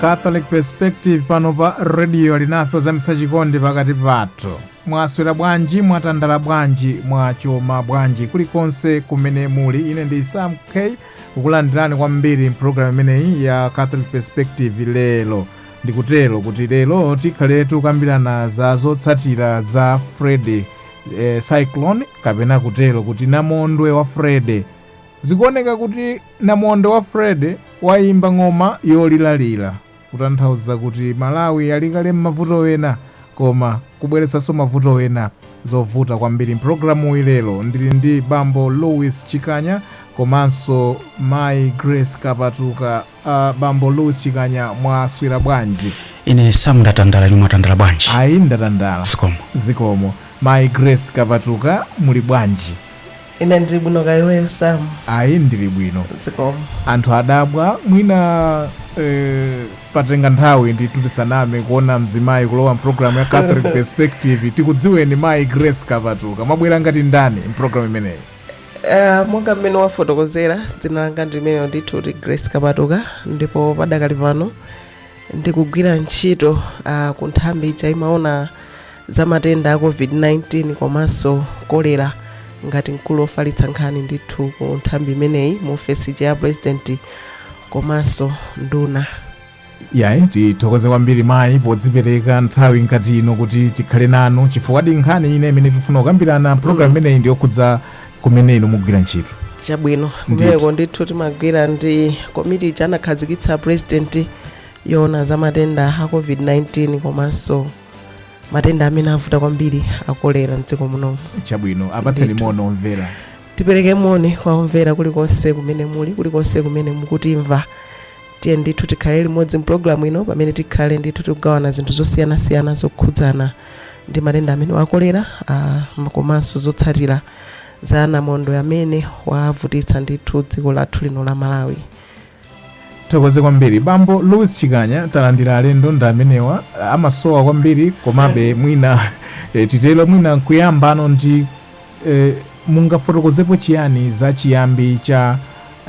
catholic perspective pano pa rediyo alinafe ozamitsa chikondi pakati pathu mwaswera bwanji mwatandala bwanji mwachoma bwanji kulikonse kumene muli ine ndi sam k ndikukulandirani kwambiri mpulogalamu imeneyi ya catholic perspective lero ndikutero kuti lero tikhale tikukambirana za zotsatira za freddy eh, cyclone kapena kutero kuti namondwe wa freddy Zikuoneka kuti namondwe wa Freddy waimba ng'oma yoliralira kutanthauza kuti Malawi ali kale mmavuto ena koma kubweretsanso mavuto ena. Zovuta kwambiri. M'pulogalamuyi lero ndili ndi Bambo Louis Chikanya komanso Mayi Grace Kapatuka. A Bambo Louis Chikanya mwaswera bwanji? ine sam ndatandala inu mwatandala bwanji Ayi ndatandala. zikomo Zikomo. Mayi Grace Kapatuka muli bwanji? Ine ndili bwino kaya iweyo Sam? Ayi ndili bwino. Zikomo. Anthu adabwa mwina eh, patenga nthawi ndithu tisanamve kuona mzimayi kulowa mpulogalamu ya Catholic Perspective tikudziweni mayi Grace Kapatuka mwabwera ngati ndani mpulogalamu imeneyi? Uh, monga mmene wafotokozera dzina langa ndi limenelo ndithu kuti grace kapatuka ndipo padakali pano ndikugwira ntchito uh, ku nthambi ija imaona za matenda a COVID-19 komanso kolera ngati mkulu ofalitsa nkhani ndithu ku nthambi imeneyi mu ofesi ya purezidenti komanso nduna yayi tithokoze kwambiri mayi podzipereka nthawi ngati ino kuti tikhale nanu chifukwa ndi nkhani ina imene tifuna kukambirana programu imeneyi ndi yokhudza kumene inu mumagwira ntchito chabwino Ndithu. kumeneko ndithu timagwira ndi komiti ija anakhazikitsa purezidenti yoona za matenda a covid-19 komanso matenda amene avuta kwambiri akolera mdziko munomu chabwino apatseni moni omvera tipereke moni kwa omvera kulikonse kumene muli kulikonse kumene mukutimva tiye ndithu tikhale limodzi mpulogalamu ino pamene tikhale ndithu tikugawana zinthu zosiyanasiyana zokhudzana ndi matenda amenewa a kolera ah, komanso zotsatira za namondwe amene wavutitsa ndithu dziko lathu lino la malawi tithokoze kwambiri bambo louis chikanya talandira alendo ndi amenewa amasowa kwambiri komabe mwina eh, titero mwina nkuyambano ndi eh, mungafotokozepo chiyani za chiyambi cha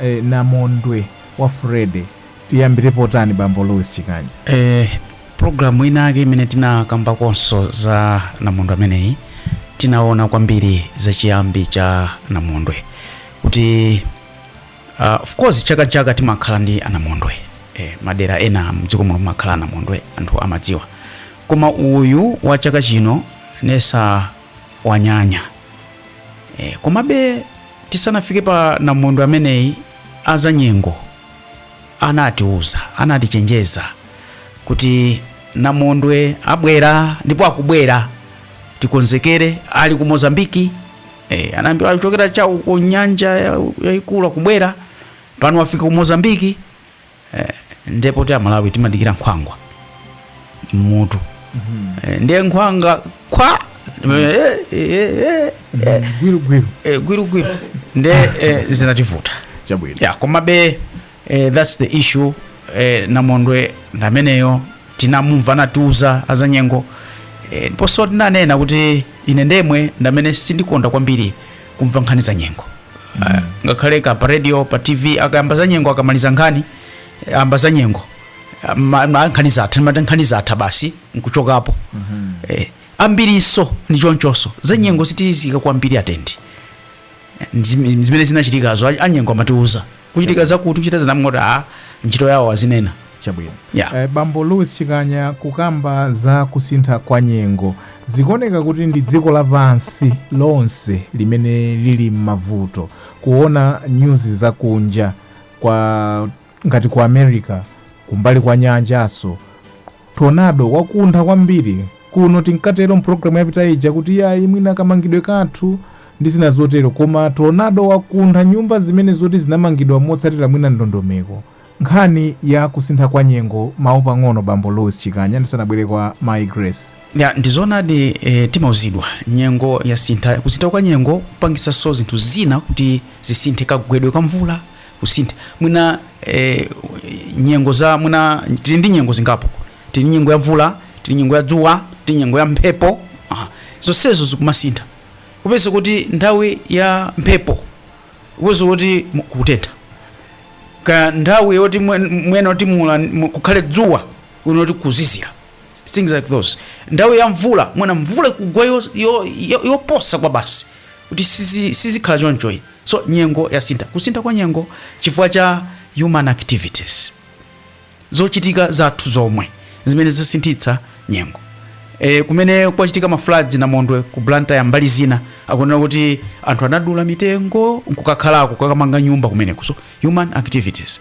eh, namondwe wa freddy tiyambirepo tani bambo louis chikanya eh, programu inake imene tinakambakonso za namondwe ameneyi tinaona kwambiri za chiyambi cha namondwe kuti Uh, of course chaka n'chaka timakhala ndi anamondwe eh, madera ena mdziko muno mumakhala anamondwe anthu amadziwa koma uyu wa chaka chino nesi wanyanya eh, komabe tisanafike pa namondwe ameneyi azanyengo anatiuza anatichenjeza kuti namondwe abwera ndipo akubwera tikonzekere ali ku mozambiki Eh, anayamba akuchokera cha uko ku nyanja yaikulu akubwera pano wafika ku Mozambiki eh, ndipo ti amalawi timadikira nkhwangwa m'mutu mm -hmm. eh, ndiye nkhwangwa kwa eh, eh, eh, eh, gwirugwiru eh, gwirugwiru nde eh, zinativuta chabwino ya komabe eh, that's the issue eh, namondwe ndameneyo tinamumva anatiuza azanyengo eh, ndiponso ndinanena kuti ine ndemwe ndamene sindikonda kwambiri kumva nkhani za nyengo Eh, ngakhale ka pa radio pa tv akayamba za nyengo akamaliza nkhani eh, ayamba za nyengo Ah, ma- ma- nkhani zatha timati nkhani zatha basi nkuchokapo eh, ambirinso ndi chonchonso za nyengo sitizitenga kwambiri atendi Ndi zim- zimene zinachitikazo a- anyengo amatiuza kuchitika zakuti kuchita zinamngoti a ntchito yawo azinena chabwino yeah. Eh, bambo louis chikanya kukamba za kusintha kwa nyengo zikuoneka kuti ndi dziko lapansi lonse limene lili m'mavuto kuona nyuzi zakunja ngati ku america kumbali kwa nyanjanso Tornado, wakuntha kwambiri kuno, timkatero m'programu yapita ija kuti iyayi, mwina kamangidwe kathu, ndi zina zotero, koma tornado wakuntha nyumba zimene zoti zinamangidwa motsatira mwina ndondomeko. Nkhani ya kusintha kwa nyengo, mawu pang'ono, Bambo Louis Chikanya, ndisanabwere kwa Mayi Grace. Ya, ndi zoonadi, e, timauzidwa nyengo yasintha. Kusintha kwa nyengo kumapangitsanso zinthu zina kuti zisinthe, kagwedwe ka mvula. kusintha mwina eh, nyengo za mwina tili ndi nyengo zingapo tili ndi nyengo ya mvula tili nyengo ya dzuwa tili nyengo ya mphepo ah, zonsezo zikumasintha kupeza kuti nthawi ya mphepo kupeza kuti mu- kutentha nthawi yoti mwin- mwina kuti mula mu- kukhale dzuwa uona kuti kuzizira things like those nthawi ya mvula mwina mvula ikugwa yo- yo- yo- yoposa kwa basi kuti sizi- sizikhala chonchoyi So nyengo yasintha, kusintha kwa nyengo chifukwa cha human activities, zochitika zathu zomwe zimene zasinthitsa nyengo. E, kumene kwachitika ma floods namondwe ku Blantyre mbali zina akunena kuti anthu anadula mitengo nkukakhalako kukamanga nyumba kumeneko. So human activities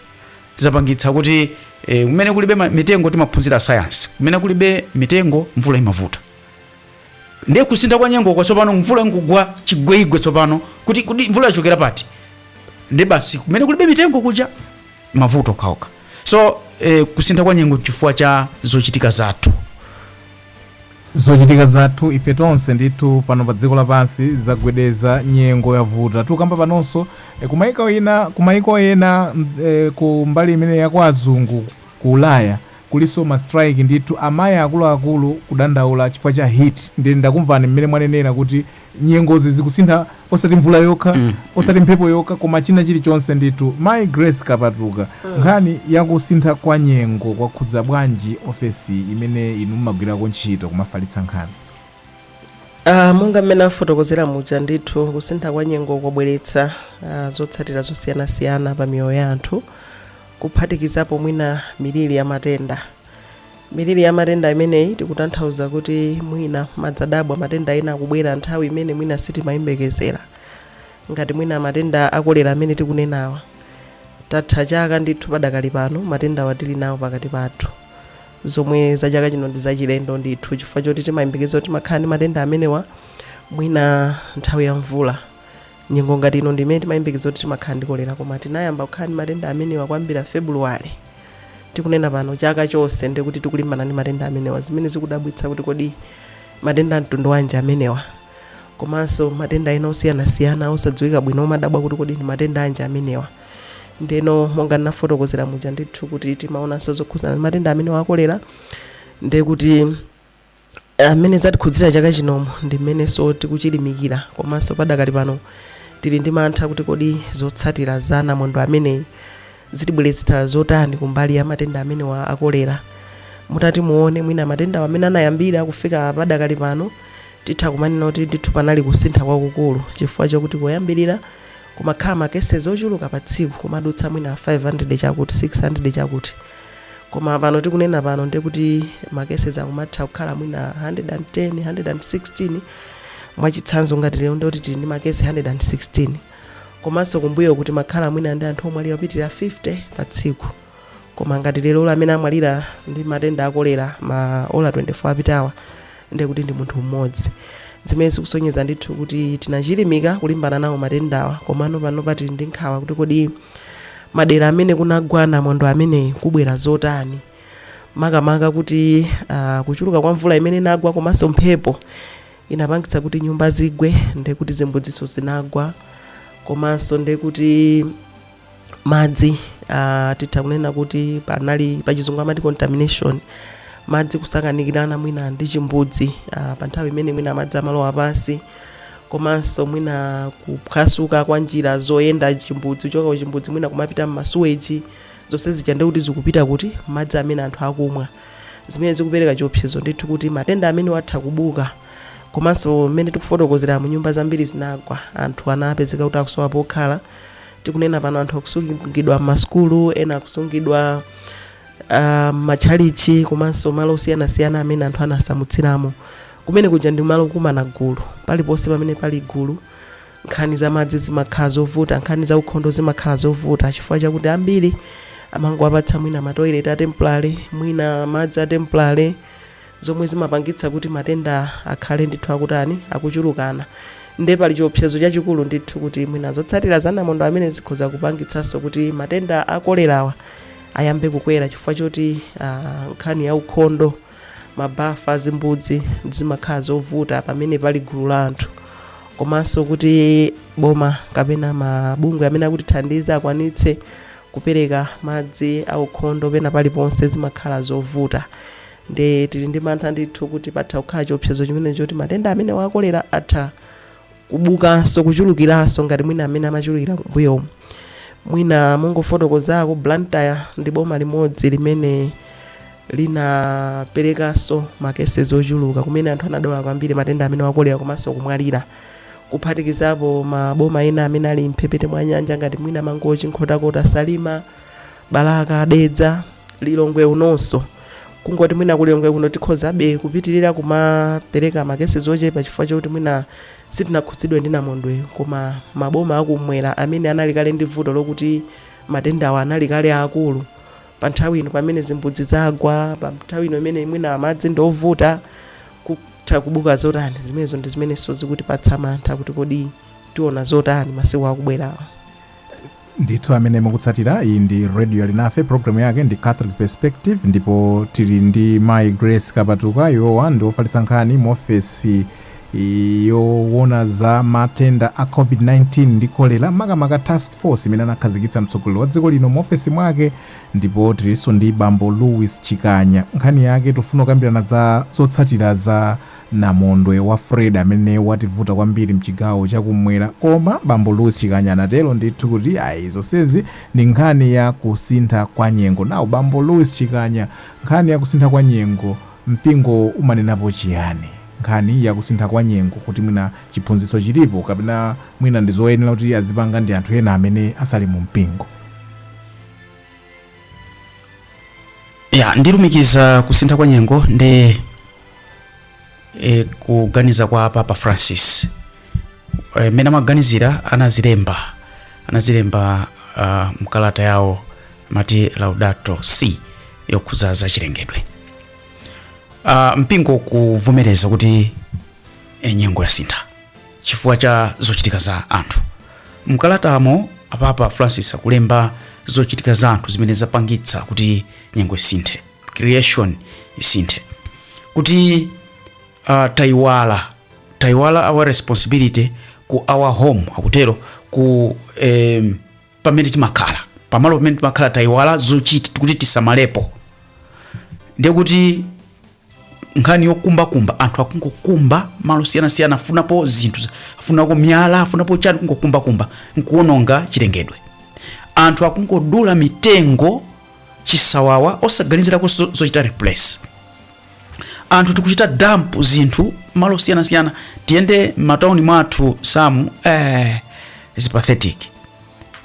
zapangitsa kuti e, kumene kulibe mitengo timaphunzira science, kumene kulibe mitengo mvula imavuta. ndiye kusintha kwa nyengo kwa tsopano mvula ikungogwa chigweigwe tsopano kuti kuti mvula yachokera pati ndi basi kumene kulibe mitengo kuja mavuto okhaokha so eh, kusintha kwa nyengo chifukwa cha zochitika zathu zochitika zathu ife tonse ndithu pano pa dziko lapansi zagwedeza nyengo yavuta tukamba panonso e, kumaiko ena kumaiko ena m- e, ku mbali imene ya kwa azungu ku ulaya Kulinso ma strike ndithu amai akuluakulu kudandaula chifukwa cha heat ndiye ndakumvani mmene mwanenera kuti nyengozi zikusintha osati mvula yokha osati mphepo yokha koma china chilichonse ndithu mai Grace Kapatuka nkhani yakusintha kwa nyengo kwakhudza bwanji ofesi imene inu mmagwirako ntchito kumafalitsa nkhani? Ah, monga mmene afotokozera muja ndithu kusintha kwa nyengo kwabweretsa ah, zotsatira zosiyanasiyana pa miyoyo ya anthu kuphatikizapo mwina miliri ya matenda. Miliri ya matenda imeneyi tikutanthauza kuti mwina umadabwa matenda ena akubwera nthawi imene mwina sitimayembekezera, ngati mwina matenda a kolera amene tikunenawa tatha chaka ndithu padakali pano matendawa tili nawo pakati pathu, zomwe za chaka chino ndi zachilendo ndithu chifukwa choti timayembekeza kuti timakhala ndi matenda amenewa mwina nthawi ya mvula. Nyengo ngati ino ndi imene timayembekezera kuti timakhala ndi kolera koma tinayamba kukhala ndi matenda amenewa kuyambira February tikunena pano, chaka chonse ndiye kuti tikulimbana ndi matenda amenewa zimene zikudabwitsa kuti kodi matenda a mtundu wanji amenewa komanso matenda ena osiyanasiyana osadziwika bwino umadabwa kuti kodi ndi matenda anji amenewa. Ndiyeno monga ndinafotokozera muja ndithu kuti timaonanso zokhudzana ndi matenda amenewa a kolera ndiye kuti Mmene zatikhudzira chaka chinomo ndi mmenenso tikuchilimikira komanso padakali pano tili ndi mantha kuti kodi zotsatira za namondwe ameneyu zitibweretsa zotani kumbali ya matenda amenewa a kolera. Mutati muone mwina matendawa mmene anayambira kufika padakali pano, titha kumanena kuti ndithu panali kusintha kwakukulu chifukwa chokuti poyambirira kumakhala ma cases ochuluka pa tsiku, kumadutsa mwina 500 chakuti, 600 chakuti. koma pano tikunena pano ndiye kuti ma cases akumatha kukhala mwina 110 116 mwachitsanzo ngati lero ndiye kuti tili ndi ma case 116 komanso kumbuyoku timakhala mwina ndi anthu omwalira opitirira 50 pa tsiku koma ngati lerolo amene amwalira ndi matenda akolera ma ola 24 apitawa ndiye kuti ndi munthu mmodzi zimene zikusonyeza ndithu kuti tinachilimika kulimbana nawo matendawa komano panopa tili ndi nkhawa kuti kodi madera amene kunagwa namondwe ameneyi kubwera zotani makamaka kuti uh, kuchuluka kwa mvula imene inagwa komanso mphepo inapangitsa kuti nyumba zigwe ndekuti zimbudziso zinagwa komanso ndekuti madzi uh, titha kunena kuti panali pachizungu amati contamination madzi kusakanikirana mwina ndi chimbudzi uh, pa nthawi imene mwina madzi amalowa pansi komanso mwina kuphwasuka kwa njira zoyenda chimbudzi kuchoka kuchimbudzi mwina kumapita m'masuweji zonse zija ndi kuti zikupita ku madzi amene anthu akumwa zimene zikupereka chiopsezo ndithu kuti matenda amenewa atha kubuka komanso mmene tikufotokozera mu nyumba zambiri zinagwa anthu anapezeka kuti akusowa pokhala tikunena pano anthu akusungidwa m'masukulu ena akusungidwa ah, m'matchalichi komanso malo osiyanasiyana amene anthu anasamutsidwiramo kumene kuja ndi malo okumana gulu paliponse pamene pali gulu nkhani za madzi zimakhala zovuta nkhani za ukhondo zimakhala zovuta chifukwa chakuti ambiri amangowapatsa mwina matoilet a temporary mwina madzi a temporary zomwe zimapangitsa kuti matenda akhale ndithu akutani, akuchulukana. Ndiye pali chiopsezo chachikulu ndithu kuti mwina zotsatira za namondwe ameneyu zikhoza kupangitsanso kuti matenda a kolerawa ayambe kukwera chifukwa choti ah, nkhani ya ukhondo, mabafa, zimbudzi zimakhala zovuta pamene pali gulu la anthu komanso kuti boma kapena mabungwe amene akutithandiza akwanitse kupereka madzi aukhondo pena paliponse zimakhala zovuta Nde tili ndi mantha ndithu kuti patha kukhala chiopsezo chimenechi choti matenda amenewa a kolera atha kubukanso, kuchulukiranso ngati mwina mmene amachulukira kumbuyomu. Mwina mongofotokozako, Blantyre ndi boma limodzi limene linaperekanso ma cases ochuluka kumene anthu anadwala kwambiri matenda amenewa a kolera komanso kumwalira, kuphatikizapo maboma ena amene ali m'mphepete mwa nyanja ngati mwina Mangochi, Nkhotakota, Salima. balaka dedza lilongwe unonso kungoti mwina kulilongwe kuno tikhozabe kupitirira kumapereka makesi ochepa chifukwa chokuti mwina sitinakhudzidwe ndi namondwe koma maboma akumwera amene anali kale ndi vuto lokuti matendawa anali kale akulu pa nthawi ino pamene zimbudzi zagwa pa nthawi ino imene mwina madzi ndi ovuta kutha kubuka zotani zimenezo ndi zimenenso zikutipatsa mantha kuti kodi tiona zotani masiku akubwerawa ndithu amene mukutsatira iyi ndi radio alinafe programu yake ndi catholic perspective ndipo tili ndi mai grace kapatuka iwowa ndi ofalitsa nkhani mu ofesi yowona za matenda a covid-19 ndi kolera makamaka task force imene anakhazikitsa mtsogoleri wa dziko lino mu ofesi mwake ndipo tilinso ndi bambo louis chikanya nkhani yake tifuna kukambirana za zotsatira za Namondwe wa Freddy amene wativuta kwambiri mchigawo cha kummwera koma bambo Louis Chikanya anatero ndithu kuti ayi zonsezi ndi nkhani ya kusintha kwa nyengo. Now bambo Louis Chikanya nkhani ya kusintha kwa nyengo mpingowo umanenapo chiyani? Nkhani ya kusintha kwa nyengo kuti mwina chiphunzitso chilipo kapena mwina ndi zoyenera kuti azipanga ndi anthu ena amene sali mu mpingo? Ya ndilumikiza kusintha kwa nyengo ndi. e, kuganiza kwa papa francis e, mmene amaganizira anazilemba anazilemba uh, mkalata yawo mati laudato si yokhudza za chilengedwe uh, mpingo kuvomereza kuti e, nyengo yasintha chifukwa cha zochitika za anthu mkalatamo apapa francis akulemba zochitika za anthu zimene zapangitsa kuti nyengo isinthe creation isinthe kuti uh, taiwala taiwala our responsibility ku our home akutero ku em, pamene timakhala pamalo pamene timakhala taiwala zochita kuti tisamalepo ndiye kuti nkhani yokumbakumba anthu akungokumba malo osiyanasiyana afunapo zinthu za- afunapo miyala afunapo chani kungokumbakumba nkuononga chilengedwe anthu akungodula mitengo chisawawa osaganizirako zo- zochita replace anthu tikuchita dump zinthu malo osiyanasiyana tiyende m'matauni mwathu samu eh, is pathetic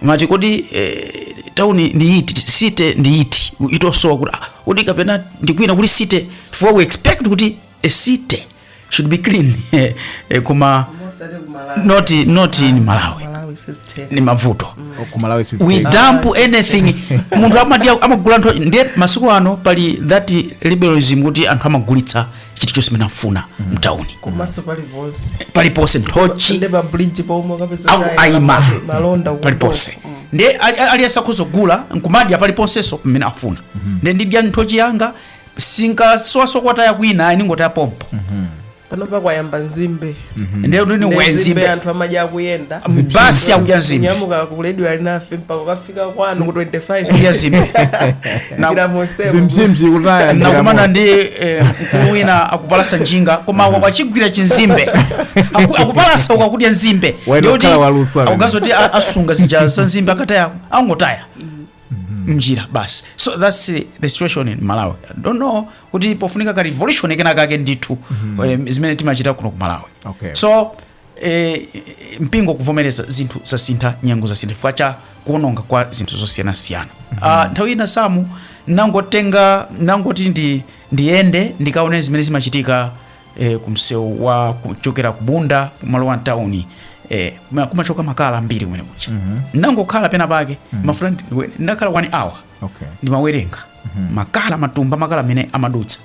mati kodi eh, tauni ndi iti city ndi iti chitosowa kuti ah, kodi kapena ndikwina kuti city chifukwa we expect kuti a city should be clean eh, eh, koma Mosati ku Malawi. not not in malawi Malawi says ten. ni mavuto kumalawi we dump anything munthu amadya amagula ntho ndiye masiku ano pali that liberalism kuti anthu amagulitsa chilichonse mmene afuna mtauni Komanso paliponse. paliponse nthochi Nde pa bridge pomwe kapeza Au- kaya aima. ma- malonda ku paliponse mbovu. Mm. ndiye ali- ali- aliyense akhoza kugula nkumadya paliponsenso pamene afuna ndiye ndidya nthochi yanga sindikasowa kokataya kwina ndingotaya pompo pano pakayamba nzimbe ndiye kuti ni Nzimbe wenzimbe anthu amadya akuyenda basi akudya nzimbe kunyamuka ku Lilongwe mpaka ukafika kwanu ku 25 kudya nzimbe Na- njira monsemo zimzimzi kutaya njira nakumana mosi. ndi eh, mkulu wina akupalasa njinga koma mm. wachigwira chinzimbe Aku- akupalasa uku akudya nzimbe Waenda Ndiye kuti kukhala waluso amene. akugazoti a- asunga zija za nzimbe akataya angotaya mnjira basi so thats eh, the situation in malawi I don't know kuti pofunika karevolution kenakake ndithu eh, zimene timachita kuno ku malawi Okay. so eh, mpingo kuvomereza zinthu zasintha nyengo zasintha chifukwa cha kuononga kwa zinthu zosiyanasiyana Ah, nthawi ina samu nangotenga nangoti ndi ndiyende ndikaone zimene zimachitika e, kumsewu wa kuchokera ku bunda kumalowa mtawuni e, kuma- kumachoka makala ambiri kumene kucha ndangokhala pena pake mafuta ndi- ndakhala one hour okay ndimawerenga makala matumba makala amene amadutsa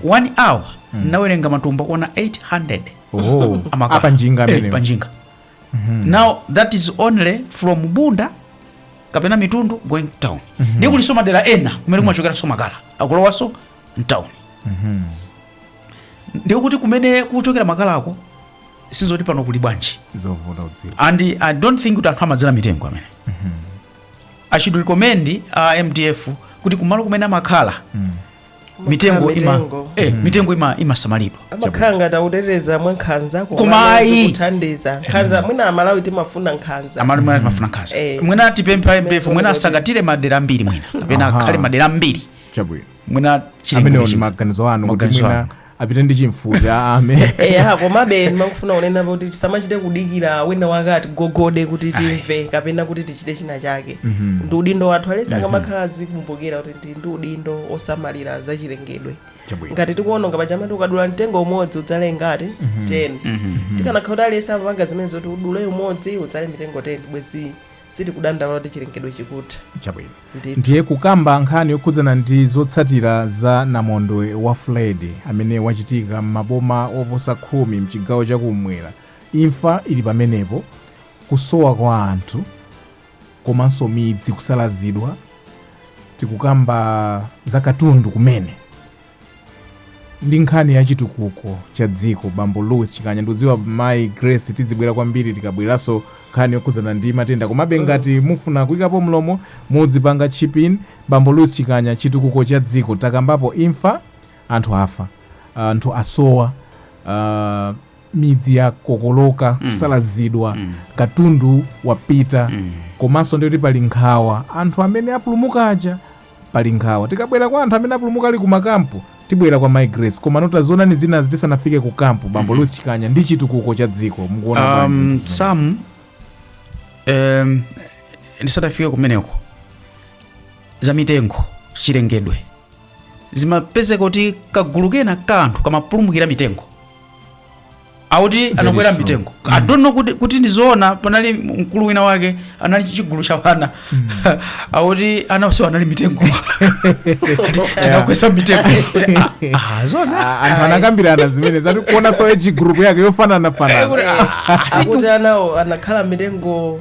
one hour ndinawerenga matumba kuona 800 oh a makala. apa njinga Eh, amene panjinga now that is only from bunda kapena mitundu going town ndiye kulinso madera ena kumene kumachokeranso makala akulowanso mtown ndiye kuti kumene kuchokera makalako sizoti pano kuli bwanji zovuta kudziwa and i don't think kuti anthu amadzala mitengo amene i should recommend uh, mdf kuti kumalo kumene amakhala mitengo ima mitengo. eh, mitengo ima imasamalidwa amakhala ngati akuteteza mwa nkhanza Koma ayi. kuthandiza. Nkhanza mwina amalawi timafuna nkhanza amalo mwina timafuna nkhanza Eh. mwina tipemphe mdf mwina asangatire madera ambiri mwina kapena Aha. akhale madera ambiri chabwino mwina amenewo ndiye chilengedwe maganizo anu kuti Maganizo mwina anu. apite ndi chimfuti, ame eya komabe ndimafuna kunena kuti tisamachite kudikira wina wake atigogode kuti timve kapena kuti tichite china chake ndi udindo wathu aliyense akamakhala azikumbukira kuti ndi ndi udindo osamalira zachilengedwe Chabwino. ngati tikuononga paja amati ukadula mtengo umodzi udzale ngati 10 tikanakhala kuti aliyense amapanga zimenezo zoti udule umodzi udzale mitengo 10 bwezi sitikudandaula kuti chilengedwe chikutha chabwino ndithu. Ndiye kukamba nkhani yokhudzana ndi zotsatira za namondwe wa Freddy amene wachitika m'maboma oposa khumi mchigawo cha kummwera, imfa ili pamenepo, kusowa kwa anthu komanso midzi kusalazidwa, tikukamba za katundu kumene. ndi nkhani ya chitukuko cha dziko bambo louis chikanya ndikudziwa mayi grace tizibwera kwambiri tikabweranso nkhani yokhudzana ndi matenda komabe ngati mufuna kuyikapo mlomo mudzipanga chip in bambo louis chikanya chitukuko cha dziko takambapo imfa anthu afa anthu asowa ah, midzi yakokoloka kusalazidwa katundu wapita komanso nditi pali nkhawa anthu amene apulumuka aja Pali nkhawa. Tikabwera kwa anthu amene apulumuka ali ku makampu, tibwera kwa Mai Grace. Komano tazionani zinazi tisanafike ku kampu, Bambo Louis Chikanya, ndi chitukuko cha dziko. Mukuona bwanji um, zinthu zimene- sam um, ndisadafike kumeneko za mitengo chilengedwe zimapezeka kuti kagulu kena ka anthu kamapulumukira m'mitengo akuti Very anakwera true. m'mitengo mm. i don't know kuti, kuti ndizoona panali mkulu wina wake anali ndi chigulu cha wana mm. akuti anawo onsewo anali m'mitengo tinakweza m'mitengo Ah, ah, zona Ah, anthu anakambirana zimenezo zoti kuonanso age group yake yofananafanana akuti anawo anakhala m'mitengo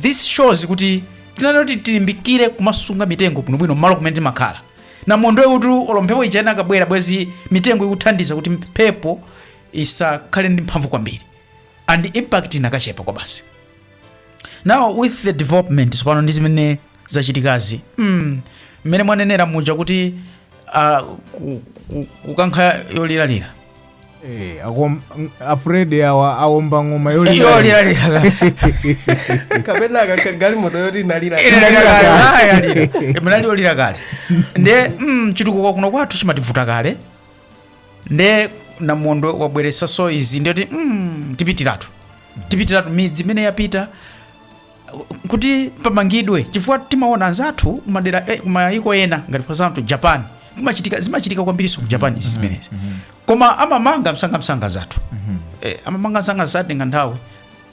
this shows kuti tinayenera kuti tilimbikire kumasunga mitengo bwinobwino mmalo kumene timakhala namondwe kuti olo mphepo ija inakabwera bwezi mitengo ikuthandiza kuti mphepo isakhale ndi mphamvu kwambiri and impact inakachepa kwabasi now with the development tsopano ndi zimene zachitikazi mm, mmene mwanenera muja kuti uh, ku- ku- kukankha yoliralira Eh, akom- ng- afredi awa awomba ng'oma yolira yoliralira kapena akakagalimoto yoti inali munali olira kale nde mm, chitukuko kuno kwathu chimativuta kale nde namondwe wabweresaso izi ndiye kuti mm, tipitiratu tipitiratu midzi imene yapita kuti pamangidwe chifukwa timaona anzathu kumadera eh, kumayiko ena ngati for example japan kumachitika zimachitika kwambirinso ku japan izi zimenezi koma amamanga msangamsanga zinthu eh, amamanga msanga satenga nthawi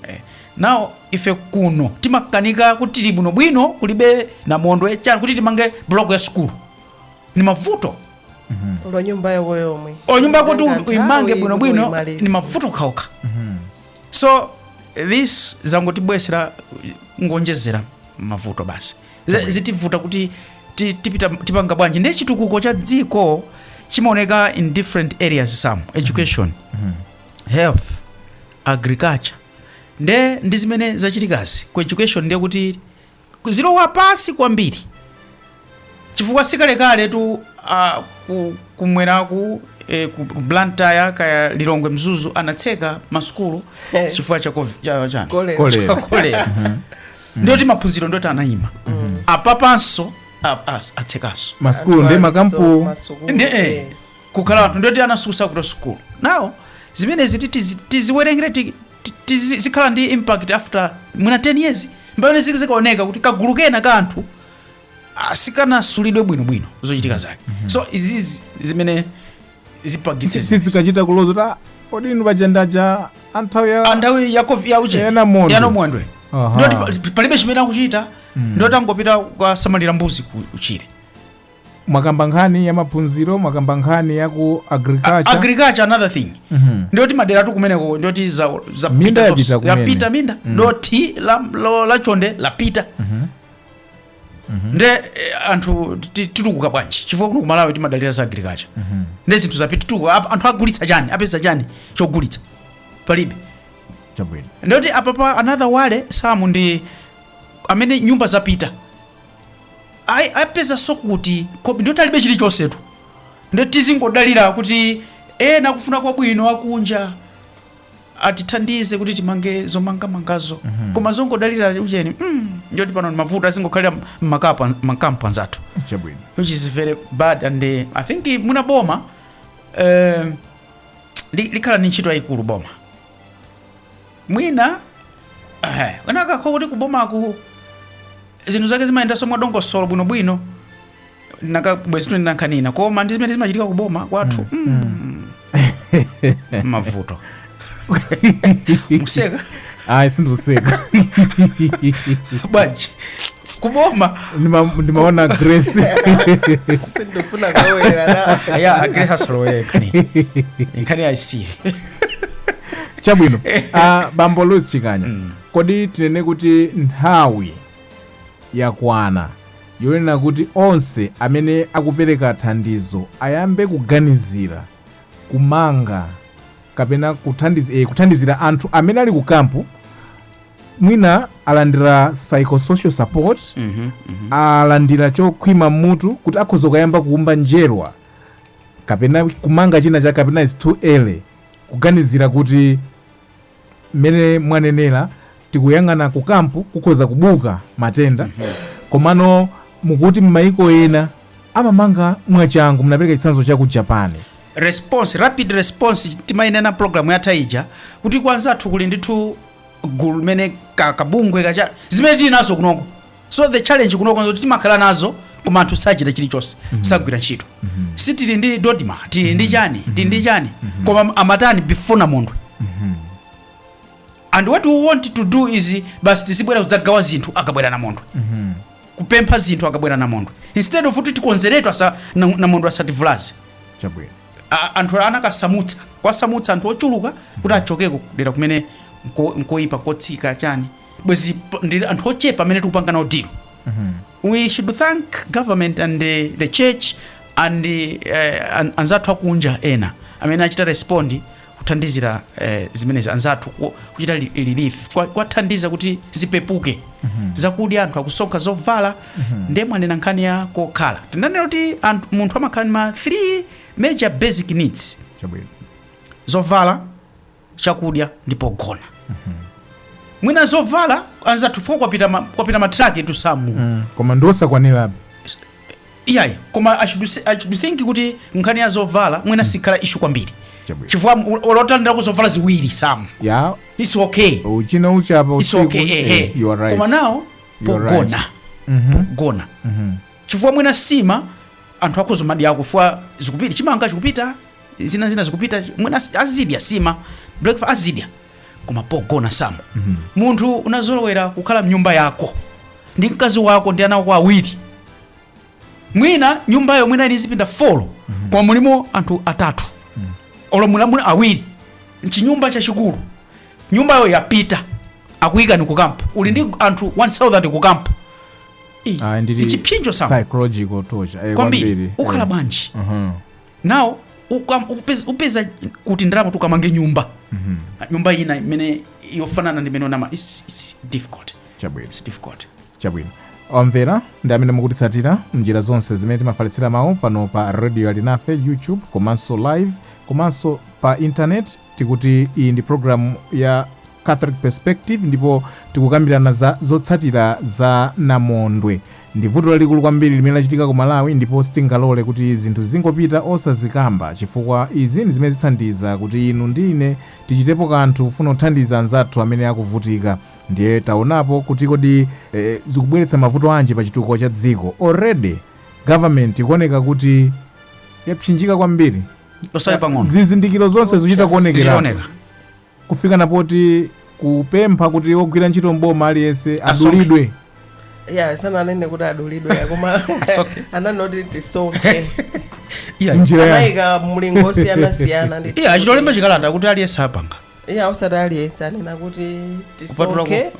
eh, now ife kuno timakanika kuti tili bwinobwino kulibe namondwe chani kuti timange block ya sukulu ni mavuto olo nyumba yako yomwe o nyumba yakuti Nthawi uimange bwinobwino uimalize. ni mavuto okhaokha so this zangotibwesera nkuonjezera mavuto basi Z- zitivuta kuti ti- tipita tipanga bwanji nde chitukuko cha dziko chimaoneka in different areas some education health agriculture nde ndi zimene zachitikazi ku education ndiye kuti Zilowa pansi kwambiri chifukwa sikalekaletu a ku kumweraku e, ku ku Blantyre kaya Lilongwe Mzuzu anatseka masukulu Eh. chifukwa cha covid- cha chani Kolera. Kolera. kolera ndoti maphunziro ndoti anayima apapanso a- as- atsekanso masukulu ndi makampu ndi eh, kukhala anthu ndoti anasusukako sukulu now zimenezi ti- tizi- tiziwerengere ti- tizikhala ndi impact after mwina 10 years mbamene zikaoneka kuti kagulu kena ka anthu ah, sikanasulidwe bwinobwino zochitika zake mhm. so izizi zimene zipangitse zikachita kuloza kuti ah, kodi inu pajandaja a nthawi ya a nthawi ya covid ya uje ya namondwe ya namondwe ndoti palibe chimene akuchita mm. ndoti azingopita kukasamalira mbuzi kutchire mwakamba nkhani ya maphunziro mwakamba nkhani ya ku A- agriculture agriculture another thing Mhm. ndiyoti maderatu kumeneko ndiyoti za, za Minda pita yapita zonse. kumene. yapita minda dothi la, lo- la chonde lapita nde eh, anthu ti- titukuka bwanji chifukwa kuno kumalawi timadalira za agriculture nde zinthu zapita titukuka Ap- anthu agulitsa chani apeza chani chogulitsa palibe chabwino ndiyoti apapa another worrisome ndi amene nyumba zapita ayi apezanso kuti kobiri ndi loti alibe chilichonsetu nde tizingodalira kuti ena akufuna kwabwino akunja atithandize kuti timange zomangamangazo koma zongodalira ucheni mm, ndiye kuti pano ndi mavuto azingokhalira mmakapu- mmakampu anzathu chabwino which is very bad and uh, i think uh, muna boma uh, li- likhala ni ntchito yayikulu boma mwina eh, zinakakhala kuti kubomaku zinthu zake zimayendanso mwadongosolo bwinobwino nanga bwezi tili ndi nkhani ina koma ndi zimene zimachitika kuboma kwathu mm. mavuto mukuseka ayi ndikuseka bwanji kuboma Ndima- ndimaona grace sindifuna kulowerera ya a grace asalowere nkhani nkhani ayisiye chabwino Ah, bambo louis chikanya kodi tinene kuti nthawi yakwana yonena kuti onse amene akupereka thandizo ayambe kuganizira kumanga kapena kuthandiz- eh, kuthandizira anthu amene ali ku kampu mwina alandira psychosocial support Mhm, mhm. alandira chokhwima mmutu kuti akhoza kuyamba kuumba njerwa kapena kumanga china chake kapena it's too early kuganizira kuti mmene mwanenera tikuyang'ana ku kampu kukhoza kubuka matenda komano mukuti m'mayiko ena amamanga mwachangu munapereka chitsanzo cha ku japan response rapid response timainena programu yatha ija kuti kwanzathu kuli ndithu gulu limene ka- kabungwe kachani zimene tili nazo kunoko so the challenge kunoko nzoti timakhala nazo koma anthu sachita chilichonse sagwira ntchito si tili ndi dodma tili ndi chani tili ndi chani koma amatani before namondwe and what we want to do is basi tizibwera kudzagawa zinthu akabwera namondwe kupempha zinthu akabwera namondwe instead of kuti tikonzeretu asa na- namondwe asativulaze chabwino a- anthu anakasamutsa kwasamutsa anthu ochuluka kuti achokeko kudera kumene nko- nkoyipa kotsika chani bwezi p- ndi anthu ochepa amene tikupanga nawo deal we should thank government and the, the church and uh, an, anzathu akunja ena amene achita respond kuthandizira eh, zimenezi anzathu ku- kuchita li- relief kwa- kwathandiza kuti zipepuke zakudya anthu akusonkha zovala ndiye mwanena nkhani ya kokhala tinanena kuti anthu- munthu amakhala ndi ma 3 major basic needs chabwino zovala chakudya ndi pogona mwina zovala anzathu fo kwapita ma- kwapita matraki to some koma ndiosakwanirabe iyayi koma I should say- I should think kuti nkhani ya zovala mwina siikhala issue kwambiri Chabwino. chifukwa olo utalandirako zovala ziwiri Sam ya its okay uchita uchapa its usiku okay eh, ehe you are right koma nawo You are pogona Mhm, pogona mhm. chifukwa mwina sima anthu akhoza kumadya ku ufa ukupita chimanga chikupita zina zina zikupita mwina azidya sima breakfast azidya koma pogona Sam munthu unazolowera kukhala mnyumba yako ndi mkazi wako ndi ana wako awiri mwina nyumbayo mwina ili zipinda folo koma mulimo anthu atatu olo mulimo awiri mchinyumba chachikulu nyumbayo yapita akuyikani kukampu uli ndi anthu 1000 kukampu Ah, ndili- nchipsinjo Sam psychological torture eh, kwambiri ukhala eh. bwanji Mhm. nawo ukam- upez- upeza kuti ndalama zoti ukamange nyumba nyumba ina imene yofanana ndi imene unama it's, it's difficult chabwino it's difficult chabwino omvera ndi amene mukutitsatira mnjira zonse zimene timafalitsira mawu pano pa radio alinafe youtube komanso live komanso pa intaneti tikuti iyi ndi programu ya catholic perspective ndipo tikukambirana za zotsatira za namondwe ndi vuto lalikulu kwambiri limene lachitika ku malawi ndipo sitingalole kuti zinthu zingopita osazikamba chifukwa izi ndi zimene zithandiza kuti inu ndi ine tichitepo kanthu kufuna kuthandiza anzathu amene akuvutika ndiye taonapo kuti kodi eh, zikubweretsa mavuto anji pa chitukuko cha dziko already government ikuoneka kuti yapsinjika kwambiri osati pang'ono zizindikiro zonse zikuchita kuonekera zikuoneka kufika na poti kupempha kuti ogwira ntchito mboma aliyense Asonkhe. adulidwe ya sananene kuti adulidwe koma Asonkhe. anangoti tisonkhe iya Njira ya- anayika mlingo osiyanasiyana ndi iya achitolemba chikalata kuti aliyense apanga iya osati aliyense anena kuti Kupatulako- tisonkhe eh.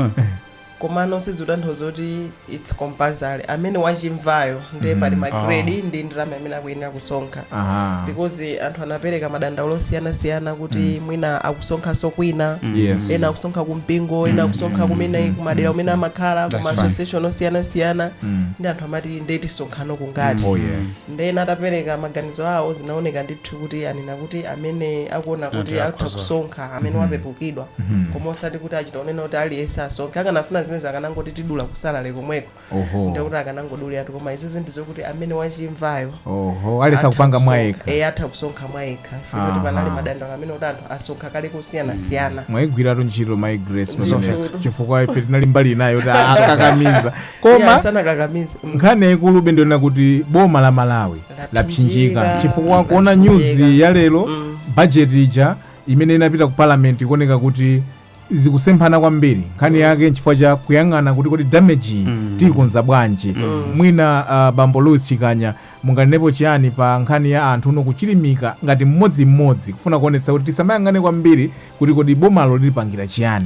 komano sizikutanthauza kuti its compulsory amene wachimvayo ndiye pali ma oh. grade ndi ndalama imene akuyenera kusonkha Aha. because anthu anapereka madandaulo osiyanasiyana kuti mwina akusonkhanso kwina Yes. ena akusonkha kumpingo ena akusonkha kumene kumadera kumene amakhala That's kuma right. association osiyanasiyana Mm. ndi anthu amati nde tisonkhano kungati Oh, yeah. nde atapereka maganizo awo zinaoneka ndithu kuti anena kuti amene akuona kuti Ati atha akhoza. kusonkha amene wapepukidwa koma osati kuti achita kunena kuti aliyense asonkhe akanafuna zimenezo akanangoti tidula kusalare komweko oho ndikuti akanangodulilatu koma izizi ndizokuti amene wachimvayo oho ayesa kupanga mwayekha e atha kusonkha mwayekha Aha. kuti panali madandaulo amene kuti anthu asonkha kale kosiyanasiyana mwayigwiradi ntchito my grace Ndithu. pamene chifukwa ife tinali mbali inayo kuti akakamiza koma sanakakamiza nkhani yayikulu be ndi kunena kuti boma la malawi lapsinjika chifukwa kuona news ya lero bajeti ija imene inapita ku parliament ikuoneka kuti zikusemphana kwambiri nkhani yake nchifukwa cha kuyang'ana kuti kodi damage iyi tiyikonza bwanji mwina uh, bambo louis chikanya munganenepo chiyani pa nkhani ya anthu muno kuchilimika ngati mmodzimmodzi kufuna kuonetsa kuti tisamayang'ane kwambiri kuti kodi bomalo litipangira chiyani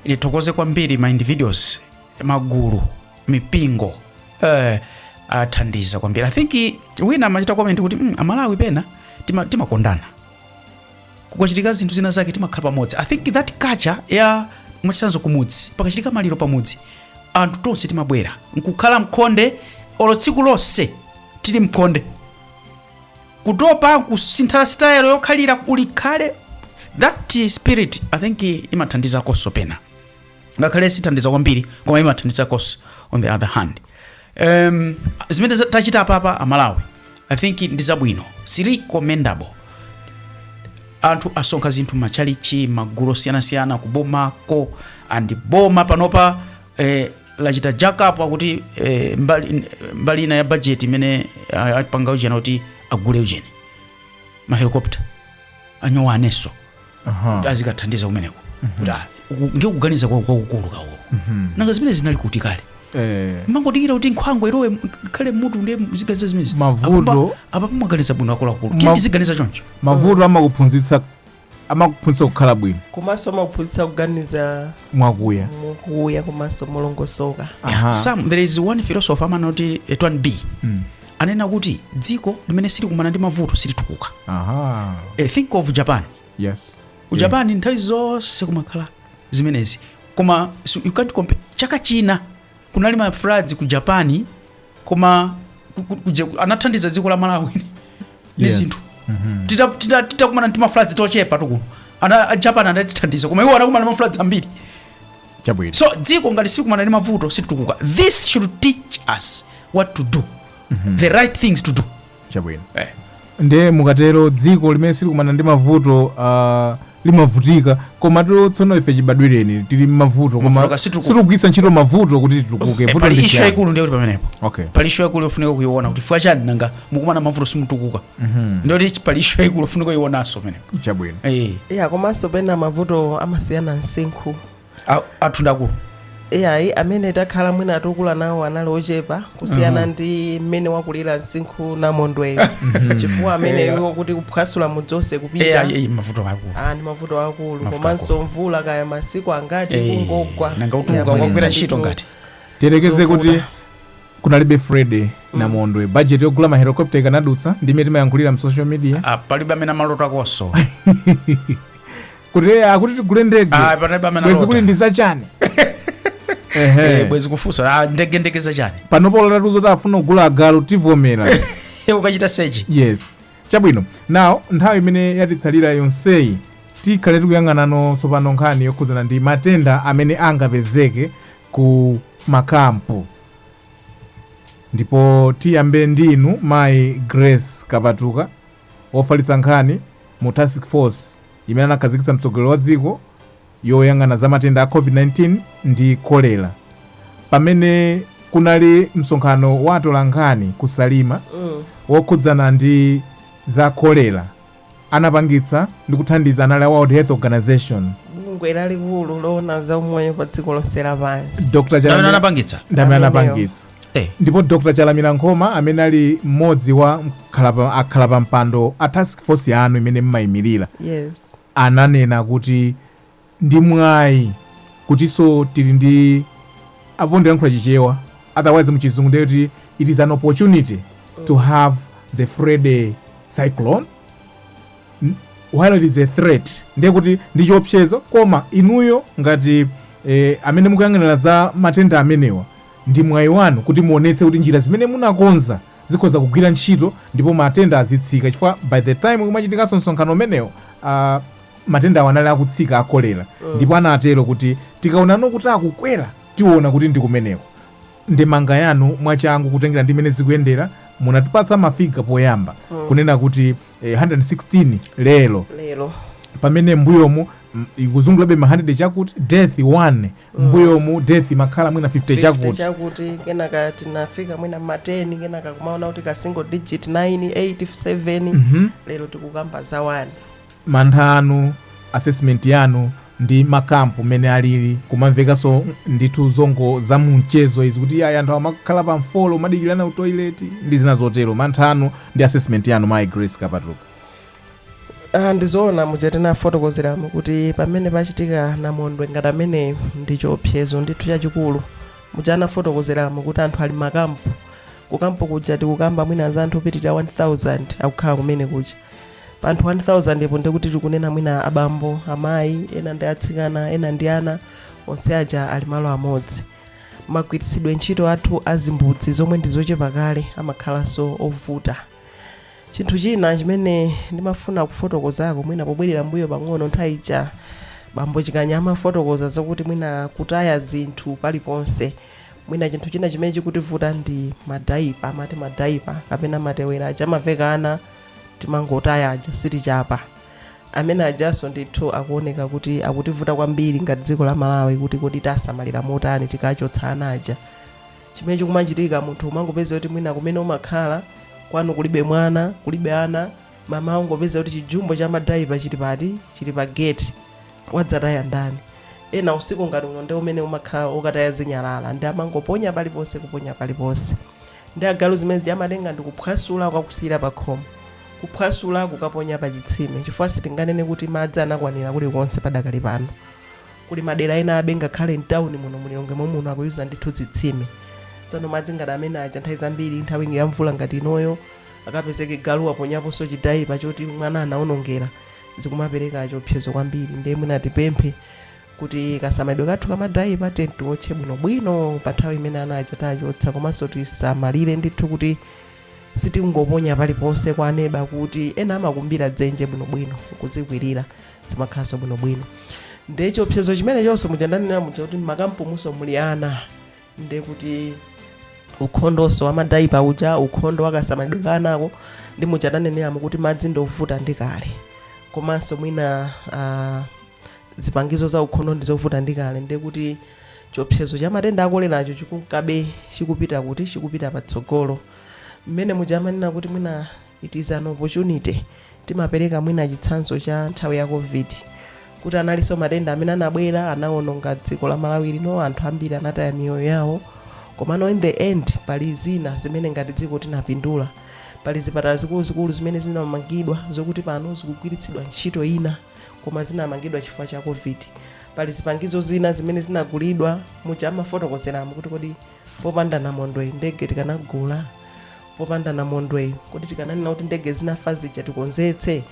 ndithokoze kwambiri ma individuals magulu mipingo eh, athandiza kwambiri i think wina amachita comment kuti mm, amalawi pena tima- timakondana kukachitika zinthu zina zake timakhala pamodzi i think that culture ya mwachitsanzo kumudzi pakachitika maliro pamudzi anthu tonse timabwera nkukhala m'khonde olo tsiku lonse tili m'khonde kutopa kusintha style yokhalira ulikhale that spirit i think imathandizakonso pena ngakhale sithandiza kwambiri koma imathandiza cos on the other hand um, zimene za- tachita apapa amalawi i think ndi zabwino it's commendable anthu asonkha zinthu machalichi magulu osiyanasiyana kubomako and boma panopa eh, lachita jack up akuti eh, mbali, mbali ina ya bajeti imene ah, apanga ujeni kuti agule ujeni mahelikopta anyowanenso kuti azikathandiza kumeneko kuti ah, uku- ndiye kuganiza kwa- kwakukulu kawo nanga zimene zinali kuti kale Eh, mangodikira kuti nkhwangwa ilowe m- khale mutu ndiye aziganiza zimenezi Mavuto- apapa mwaganiza bwino akuluakulu Ma- tiye tiziganiza choncho mavuto amakuphunzitsa amakuphunzitsa kukhala bwino komanso amakuphunzitsa kuganiza mwakuya kuya komanso molongosoka Aha. some there is one philosopher amanena kuti etwan b Mm. ananena kuti dziko limene silikumana ndi mavuto silitukuka Aha. e, think of japan Yes. ku japan nthawi zonse kumakhala zimenezi koma so you can't compare chaka china kunali ma floods ku japan koma ku- ku- ku- je- anathandiza dziko la malawi ndi Yes. zinthu Tita- tita- titakumana ndi ma floods tochepa tu kuno a a japan anatithandiza koma iwo anakumana ndi ma floods ambiri chabwino so dziko ngati silikumana ndi mavuto silitukuka this should teach us what to do the right things to do chabwino eh. nde mukatero dziko limene silikumana ndi mavuto uh, limavutika koma tiro tsono ife chibadwireni tili mmavuto koma Mavuto kasituku- sitikugwiritsa ntchito mavuto kuti titukuke Eh, vuto pali ndi issue chiyani? yaikulu ndiyo kuti pamenepo okay pali issue yaikulu yofunika kuiona kuti fika chani nanga mukumana mavuto simutukuka Mhm. ndiye kuti pali issue yaikulu ofuna kuionanso pamenepo chabwino Eh, iya komanso pena mavuto amasiyana msinkhu a- athu ndakulu iyayi amene takhala mwina atukuka nawo anali ochepa kusiyana ndi mmene wakulira msinkhu namondweyo chifukwa amene Yeah. iwo kuti kuphwasula mudzi onse Eh, kupita ayi, ayi, mavuto akulu ah, ndi mavuto akulu Mavuto komanso mvula kaya masiku angati Eh, kungogwa nanga utuluka Iya, kwagwira kuliza ntchito ndithu. ngati tiyerekeze kuti Zovuta. kunalibe freddy namondwe budget yogula ma helicopter ikanadutsa ndi imene timayankhulira mu social media Ah, palibe amene amalota kuti eh, akuti tigule ndege bwezi kuli ndi zachani Eh, Ehe. bwezi kufunsa ah, ndege zachani panopo olo atatiuza zoti afuna kugula agalu tivomera akachita sechi yes chabwino nawo nthawi imene yatitsalira yonseyi tikhale tikuyang'anano tsopano nkhani yokhudzana ndi matenda amene angapezeke ku makampu ndipo tiyambe ndi inu mayi grace kapatuka ofalitsa nkhani mu task force imene anakhazikitsa mtsogoleri wa dziko yoyang'ana za matenda a covid-19 ndi kolera pamene kunali msonkhano wa atolankhani ku salima Mm. wokhudzana ndi za kolera anapangitsa ndi kuthandiza anali a World Health Organization. bungwe lalikulu loona za umoyo pa dziko lonse lapansi Ndamene anapangitsa? Amenewo. Eh. ndipo Dr. Chalamira Nkhoma amene ali mmodzi wa mkhalapa- akhala pa mpando a task force yanu imene mmayimirira yes ananena kuti ndi mwayi kutinso tili ndi apo ndilankhula chichewa otherwise muchizungu ndiye kuti it is an opportunity to have the freddy cyclone while it is a threat ndiye kuti ndi chiopsezo koma inuyo ngati eh, amene mukuyang'anira za matenda amenewa ndi mwayi wanu kuti muonetse kuti njira zimene munakonza zikhoza kugwira ntchito ndipo matenda azitsika chifukwa by the time kumachitikanso msonkhano umenewo uh, Matendawa anali akutsika a cholera ndipo anatero kuti tikaonano kuti akukwera tiona kuti ndi kumeneko. Ndemanga yanu mwachangu kutengera ndi mene zikuyendera munatipatsa ma figure poyamba kunena kuti eh, 116 lero lero pamene mbuyomu mm, ikuzungulabe ma 100 chakuti death 1 mbuyomu death imakhala mwina 50 50 chakuti chakuti kenaka tinafika mwina mateni kenaka kumaona kutsika single digit 9 8 7 lero tikukamba za 1 mantha anu, assessment yanu ndi ma camp mmene alili kumamvekanso ndithu zongodza mu mchezo izi kuti ayi anthu amakhala pa mfolo kumadikirana ku toilet ndi zina zotero mantha anu ndi assessment yanu mayi grace kapatuka Ah, ndizoona muja tinafotokozeramo kuti pamene pachitika namondwe ngati ameneyo ndi chiopsezo ndithu chachikulu muja anafotokozeramo kuti anthu ali m'makampu kukampu kuja tikukamba mwina za anthu opitirira 1000 akukhala kumene kuja Pa anthu 1,000 po ndiye kuti tikunena mwina abambo, amayi, ena ndi atsikana, ena ndi ana, onse aja ali malo amodzi. Magwiritsidwe ntchito athu a zimbudzi zomwe ndi zochepa kale amakhalanso ovuta. Chinthu china chimene ndimafuna kufotokozako mwina pobwerera m'mbuyo pang'ono, nthawi ija bambo Chikanya amafotokoza zakuti mwina kutaya zinthu paliponse. Mwina chinthu china chimene chikutivuta ndi madaipa, amati madaipa kapena matewera aja amaveka ana timangotaya aja sitichapa amene ajanso ndithu akuoneka kuti akutivuta kwambiri ngati dziko la malawi kuti kodi tiwasamalira motani tikachotsa ana aja chimene chikumachitika munthu umangopeza kuti mwina kumene umakhala kwanu kulibe mwana kulibe ana mmawa ungopeza kuti chijumbo cha madaipa chili pati chili pa gate wadzataya ndani ena usiku ngati uno ndi umene umakhala okataya zinyalala nde amangoponya paliponse kuponya paliponse Nde agalu zimene zija amatenga ndikuphwasula kukakusiyira pakhomo. Kuphwasula kukaponya pachitsime chifukwa sitinganene kuti madzi anakwanira kulikonse padakali pano. Kuli madera enabe ngakhale m'tauni muno mu Lilongwe momuno akuyuza ndithu zitsime. Tsono madzi ngati amene aja nthawi zambiri nthawi ya mvula ngati inoyo akapezeke galu waponyaponso chidaipa choti mwana anaonongera zikumapereka chiopsezo kwambiri ndiye mwina tipemphe kuti kasamalidwe kathu ka madaipa tiyeni tiwotche bwinobwino pa nthawi imene ana aja tachotsa komanso tisamalire ndithu kuti sitingoponya paliponse kwa neba kuti ena amakumbira dzenje bwinobwino kuzikwirira zimakhalanso bwinobwino nde chiopsezo chimenechonso muja ndanena muja kuti mmakampumunso muli ana nde kuti ukhondonso wamadaipa uja ukhondo wakasamalidwe ka anako ndi muja ndaneneramo kuti madzi ndi ovuta ndi kale komanso mwina ah, zipangizo zaukhondo ndi zovuta ndi kale ndiye kuti chiopsezo cha matenda a koleracho chikunkabe chikupita kuti chikupita patsogolo mmene muja amanena kuti mwina it is an opportunity timapereka mwina chitsanzo cha nthawi ya covid kuti analinso matenda amene anabwera anawononga dziko la malawi lino anthu ambiri anataya miyoyo yawo komano in the end pali zina zimene ngati dziko tinapindula pali zipatala zikuluzikulu zimene zinamangidwa zokuti pano zikugwiritsidwa ntchito ina koma zinamangidwa chifukwa cha covid pali zipangizo zina zimene zinagulidwa muja amafotokozeramo kuti kodi popanda namondweyi ndege tikanagula popanda namondweyi kodi tikananena kuti ndege zinafa zija tikonzetse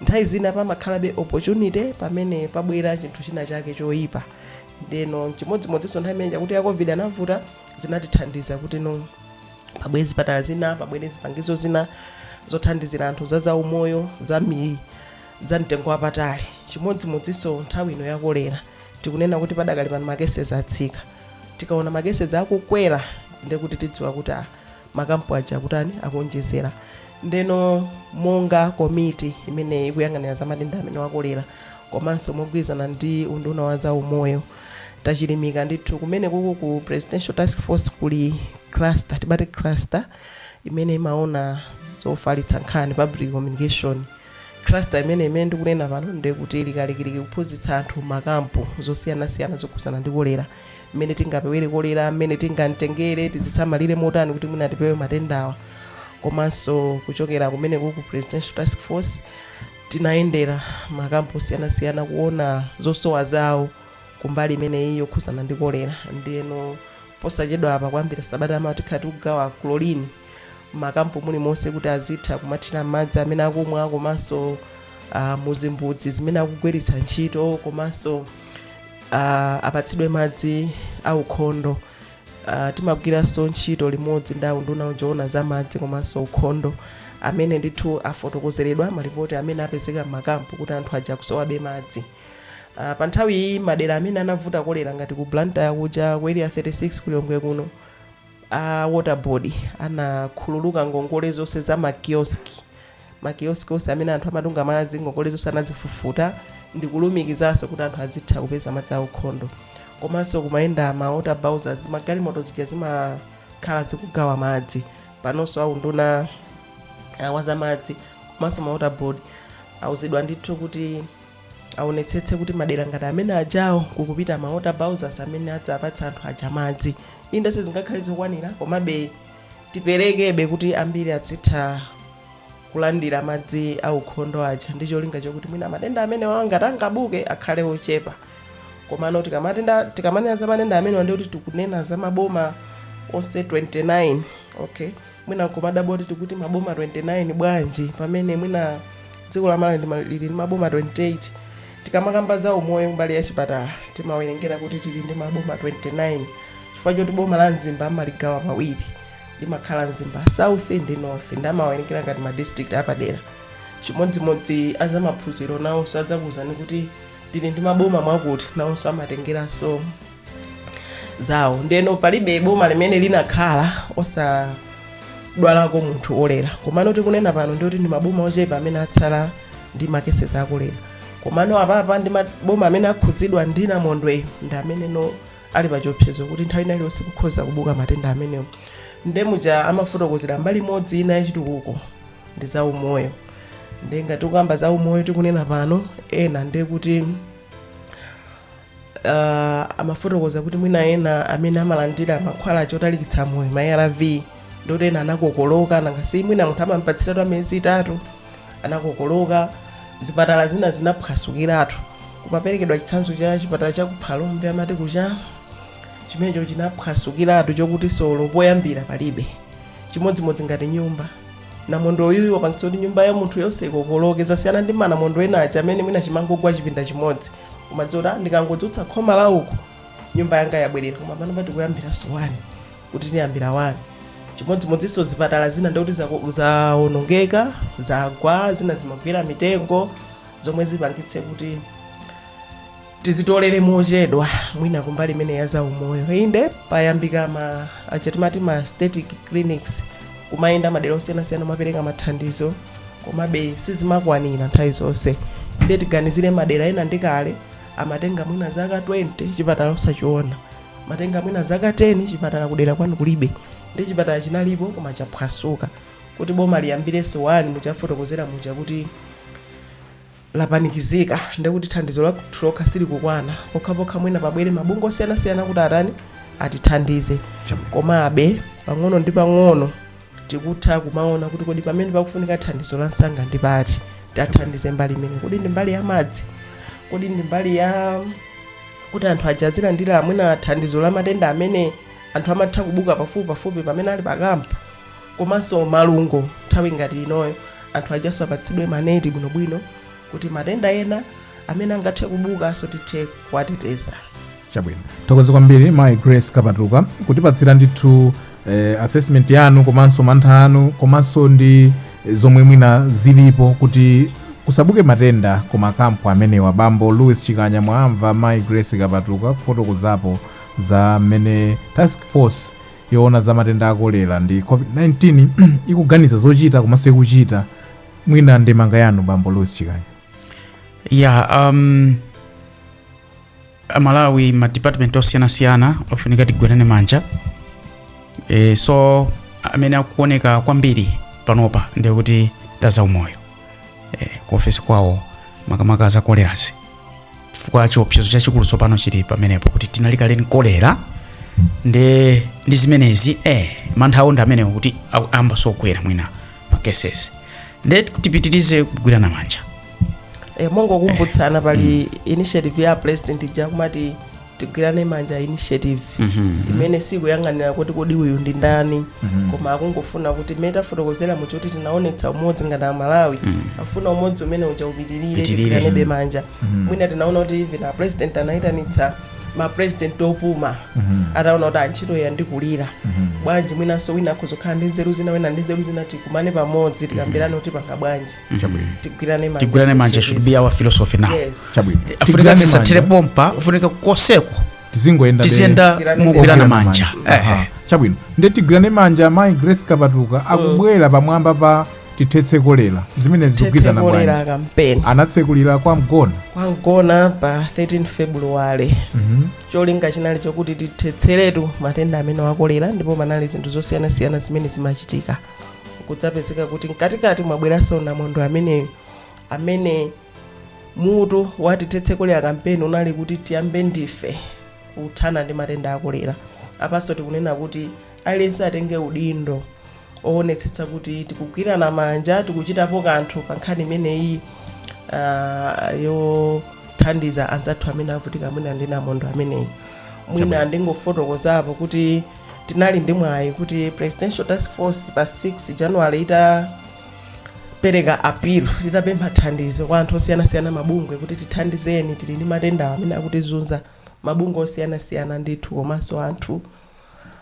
nthawi zina pamakhalabe opportunity pamene pabwera chinthu china chake choyipa ndeno chimodzimodzinso nthawi imene yakuti ya covid anavuta zinatithandiza kuti no pabwere zipatala zina pabwere zipangizo zina zothandizira anthu za zaumoyo za miyi za mtengo wapatali. Chimodzimodzinso nthawi ino ya kolera, tikunena kuti padakali pano ma cases atsika. Tikaona ma cases akukwera ndiye kuti tidziwa kuti ah, makampu aja akutani akuonjezera. Ndeno monga komiti imene ikuyang'anira za matenda amenewa a kolera komanso mogwirizana ndi unduna wa za umoyo tachilimika ndithu kumene kuku ku presidential task force kuli cluster timati cluster imene imaona zofalitsa nkhani public communication Cluster imeneyi imene ndikunena pano ndiye kuti ili kalikiliki kuphunzitsa anthu makampu zosiyanasiyana zokhudzana ndi kolera mmene tingapewere kolera mmene tingatengere tidzisamalire motani kuti mwina tipewe matendawa komanso kuchokera kumeneko ku presidential task force tinayendera makampu osiyanasiyana kuona zosowa zawo kumbali imeneyi yokhudzana ndi kolera ndiyeno posachedwapa kuyambira sabata yamawa tikhala tikugawa chlorine m'makampu mulimonse kuti azitha kumathira m'madzi amene akumwa komanso uh, muzimbudzi zimene akugwiritsa ntchito komanso uh, apatsidwe madzi aukhondo uh, timagwiranso ntchito limodzi ndi unduna woona za madzi komanso ukhondo amene ndithu afotokozeredwa malipoti amene apezeka m'makampu kuti anthu aja akusowabe madzi uh, pa nthawi iyi madera amene anavuta kolera ngati ku blantyre kuja ku area 36 ku lilongwe kuno a water board anakhululuka ngongole zonse za ma kiosk ma kiosk onse amene anthu amatunga madzi ngongole zonse anazifufuta ndikulumikizanso kuti anthu azitha kupeza madzi aukhondo komanso kumayenda ma water bowsers zimagalimoto zija zimakhala zikugawa madzi panonso aunduna uh, wazamadzi komanso ma water board auzidwa ndithu kuti aonetsetse kuti madera ngati amene aja awo kukupita ma water bowsers amene adzapatsa anthu aja madzi inde sizingakhale zokwanira komabe tiperekebe kuti ambiri azitha kulandira madzi aukhondo aja ndi cholinga chokuti mwina matenda amenewa ngati angabuke akhale ochepa komano tikamatenda- tikamanena za matenda amenewa ndi kuti tikunena za maboma onse 29 okay mwina nkumadabwa kuti tikuti maboma 29 bwanji pamene mwina dziko la malawi ndi ma- lili ndi maboma 28 tikamakamba za umoyo mbali ya chipatala timawerengera kuti tili ndi maboma 29 chifukwa choti boma la mzimba amaligawa pawiri limakhala mzimba south ndi north ndi amawerengera ngati ma district apadera chimodzimodzi azamaphunziro nawonso adzakuwuzani kuti tili ndi maboma mwakuti nawonso amatengera zawo ndiyeno palibe boma limene linakhala osadwalako munthu kolera komano tikunena pano ndikuti ndi maboma ochepa amene atsala ndi makesezi a kolera komano apapa ndi maboma amene akhudzidwa ndi namondweyo ndi amenenso ali pa chiopsezo kuti nthawi ina iliyonse kukhoza kubuka matenda amenewo ndemuja amafotokozera mbali imodzi ina yachitukuko ndi za umoyo nde ngati ukamba za umoyo tikunena pano eni ndekuti uh, amafotokoza kuti mwina ena amene amalandira mankhwala otalikitsa moyo ma arv ndoti enawo anakokoloka nangasi mwina munthu amampatsiratu amiyezi itatu anakokoloka zipatala zina zinaphwasukiratu kumaperekedwa chitsanzo cha chipatala cha kuphalombe amati kuti cha chimenecho chinaphwasukiratu chokuti solo poyambira palibe chimodzimodzi ngati nyumba namondwe uyu wapangitsa kuti nyumba ya munthu yonse ikokoloke zasiyana ndi manamondwe ena aja amene mwina chimangogwa chipinda chimodzi umadziona ndikangodzutsa khoma la uku nyumba yanga yabwerera koma pano pati kuyambira si wani kuti tiyambira wani chimodzimodzinso zipatala zina ndikuti zako- zawonongeka zagwa zina zimagwera mitengo zomwe zipangitse kuti tidzitolere mochedwa mwina kumbali imene ya zaumoyo inde payambika ma chani amati ma static clinics kumayenda madera osiyanasiyana kumapereka mathandizo komabe sizimakwanira nthawi zonse ndiye tiganizire madera ena ndi kale amatenga mwina zaka 20 chipatala osachiona amatenga mwina zaka 10 chipatala kudera kwanu kulibe ndiye chipatala chinalipo koma chaphwasuka kuti boma liyambirenso wani muja afotokozera muja kuti lapanikizika ndekuti thandizo lathu lokha silikukwana pokhapokha mwina pabwere mabungwe osiyanasiyana kuti atani atithandize komabe pang'ono ndi pang'ono tikutha kumaona kuti kodi pamene pakufunika thandizo la msanga ndi pati tathandize mbali imene kodi ndi mbali ya madzi kodi ndi mbali ya kuti anthu aja azilandira mwina thandizo la matenda amene anthu amatha kubuka pafupi pafupi pamene ali pakampu komanso malungo nthawi ngati inoyo anthu ajanso apatsidwe maneti bwinobwino kuti matenda ena amene angathe kubukanso tithe kuwateteza chabwino tithokoze kwambiri mayi grace kapatuka kutipatsira ndithu eh, assessment yanu komanso mantha anu komanso ndi zomwe mwina zilipo kuti kusabuke matenda ku makampu amenewa bambo louis chikanya mwamva mayi grace kapatuka kufotokozapo za mmene task force yoona za matenda a kolera ndi COVID-19 ikuganiza zochita komanso ikuchita mwina ndemanga yanu bambo Louis Chikanya yeah um, amalawi ma department osiyanasiyana afunika tigwirane manja e, so amene akuoneka kwambiri panopa ndikuti ndi a zaumoyo eh, ku ofesi kwawo makamaka za kolera chifukwa chiopsezo chachikulu tsopano chili pamenepo kuti tinali kale ndi kolera nde ndi zimenezi eh, mantha athu ndi amenewo kuti au- amba sokwera mwina ma cases nde tipitirize kugwirana manja e, mongokumbutsana pali initiative ya president ija kumati tigwirane manja initiative imene sikuyang'anira kuti kodi uyu ndi ndani koma ikungofuna kuti mmene tafotokozera mu choti tinaonetsa umodzi ngati amalawi tikufuna umodzi umene uja upitirire Upitirire. tigwiranebe manja mwina tinaona kuti even a president anayitanitsa ma president opuma ataona kuti ah ntchito iyi yandikulira bwanji mwinanso wina akhoza kukhala ndi nzeru zina wina ndi nzeru zina tikumane pamodzi tikambirane kuti tipanga bwanji tigwirane manja tigwirane manja Yesu should be our philosophy now Yes. chabwino tikufunika Tigwirane tisatire manja. pompa afunika koseko tizingoyenda tiziyenda Tigwirane mugwirana manja. manja Aha. Eh, chabwino nde tigwirane manja mayi grace kapatuka akubwera pamwamba pa tithetse kolera zimene zikugwirizana bwanji tithetse kolera kampeni anatsekulira kwa mgona kwa mgona pa 13 february cholinga chinali chokuti tithetseretu matenda amenewa a kolera ndipo panali zinthu zosiyanasiyana zimene zimachitika kudzapezeka kuti mkatikati mwabweranso namondwe ameneyu amene mutu wa tithetse kolera kampeni unali kuti tiyambe ndife kuthana ndi matenda a kolera apanso tikunena kuti aliyense atenge udindo owonetsetsa kuti tikugwirana manja tikuchitapo kanthu pa nkhani imeneyi ah, yothandiza anzathu amene avutika mwina ndi namondwe ameneyu mwina ndingofotokozapo kuti tinali ndi mwayi kuti presidential task force pa 6 january itapereka appeal itapempha thandizo kwa anthu osiyanasiyana mabungwe kuti tithandizeni tili ndi matenda amene akutizunza mabungwe osiyanasiyana ndithu komanso anthu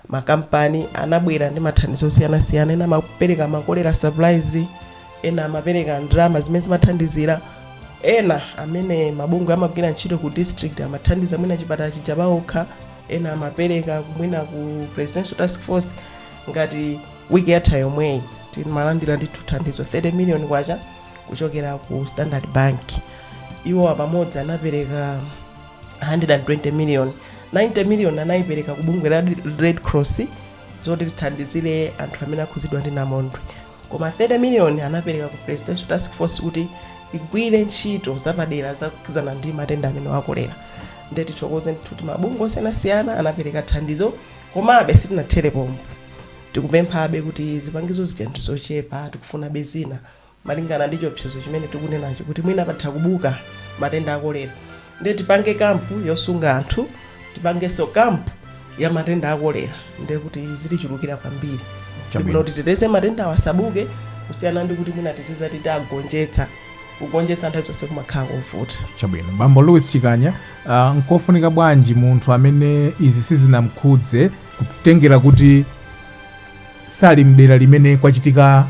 makampani anabwera ndi mathandizo osiyanasiyana ena amapereka ma kolera supplies ena amapereka ndalama zimene zimathandizira ena amene mabungwe amagwira ntchito ku district amathandiza mwina chipatala chija paokha ena amapereka ku mwina ku presidential task force ngati wiki yatha yomweyi timalandira ndithu thandizo 30 million kwacha kuchokera ku standard bank iwo apamodzi anapereka 120 million 90 million anayipereka ku bungwe la red cross zoti zithandizire anthu amene akhudzidwa ndi namondwe koma 30 miliyoni anapereka ku presidential task force kuti igwire ntchito zapadera zokhudzana ndi matenda amenewa a kolera nde tithokoze ndithu kuti mabungwe osiyanasiyana anapereka thandizo komabe sitinathere pompo tikupemphabe kuti zipangizo zija ndi zochepa tikufunabe zina malingana ndi chiopsezo chimene tikunenachi kuti mwina patha kubuka matenda akolera nde tipange kampu yosunga anthu tipangenso kampu ya matenda akolera nde kuti zitichulukira kwambiri Chabwino. ndibwino kuti titeteze matendawa asabuke kusiyana ndi kuti mwina tiziti tiwagonjetsa kugonjetsa nthawi zonse kumakhala kovuta chabwino bambo louis chikanya uh, nkofunika bwanji munthu amene izi sizinamkhudze kutengera kuti sali mdera limene kwachitika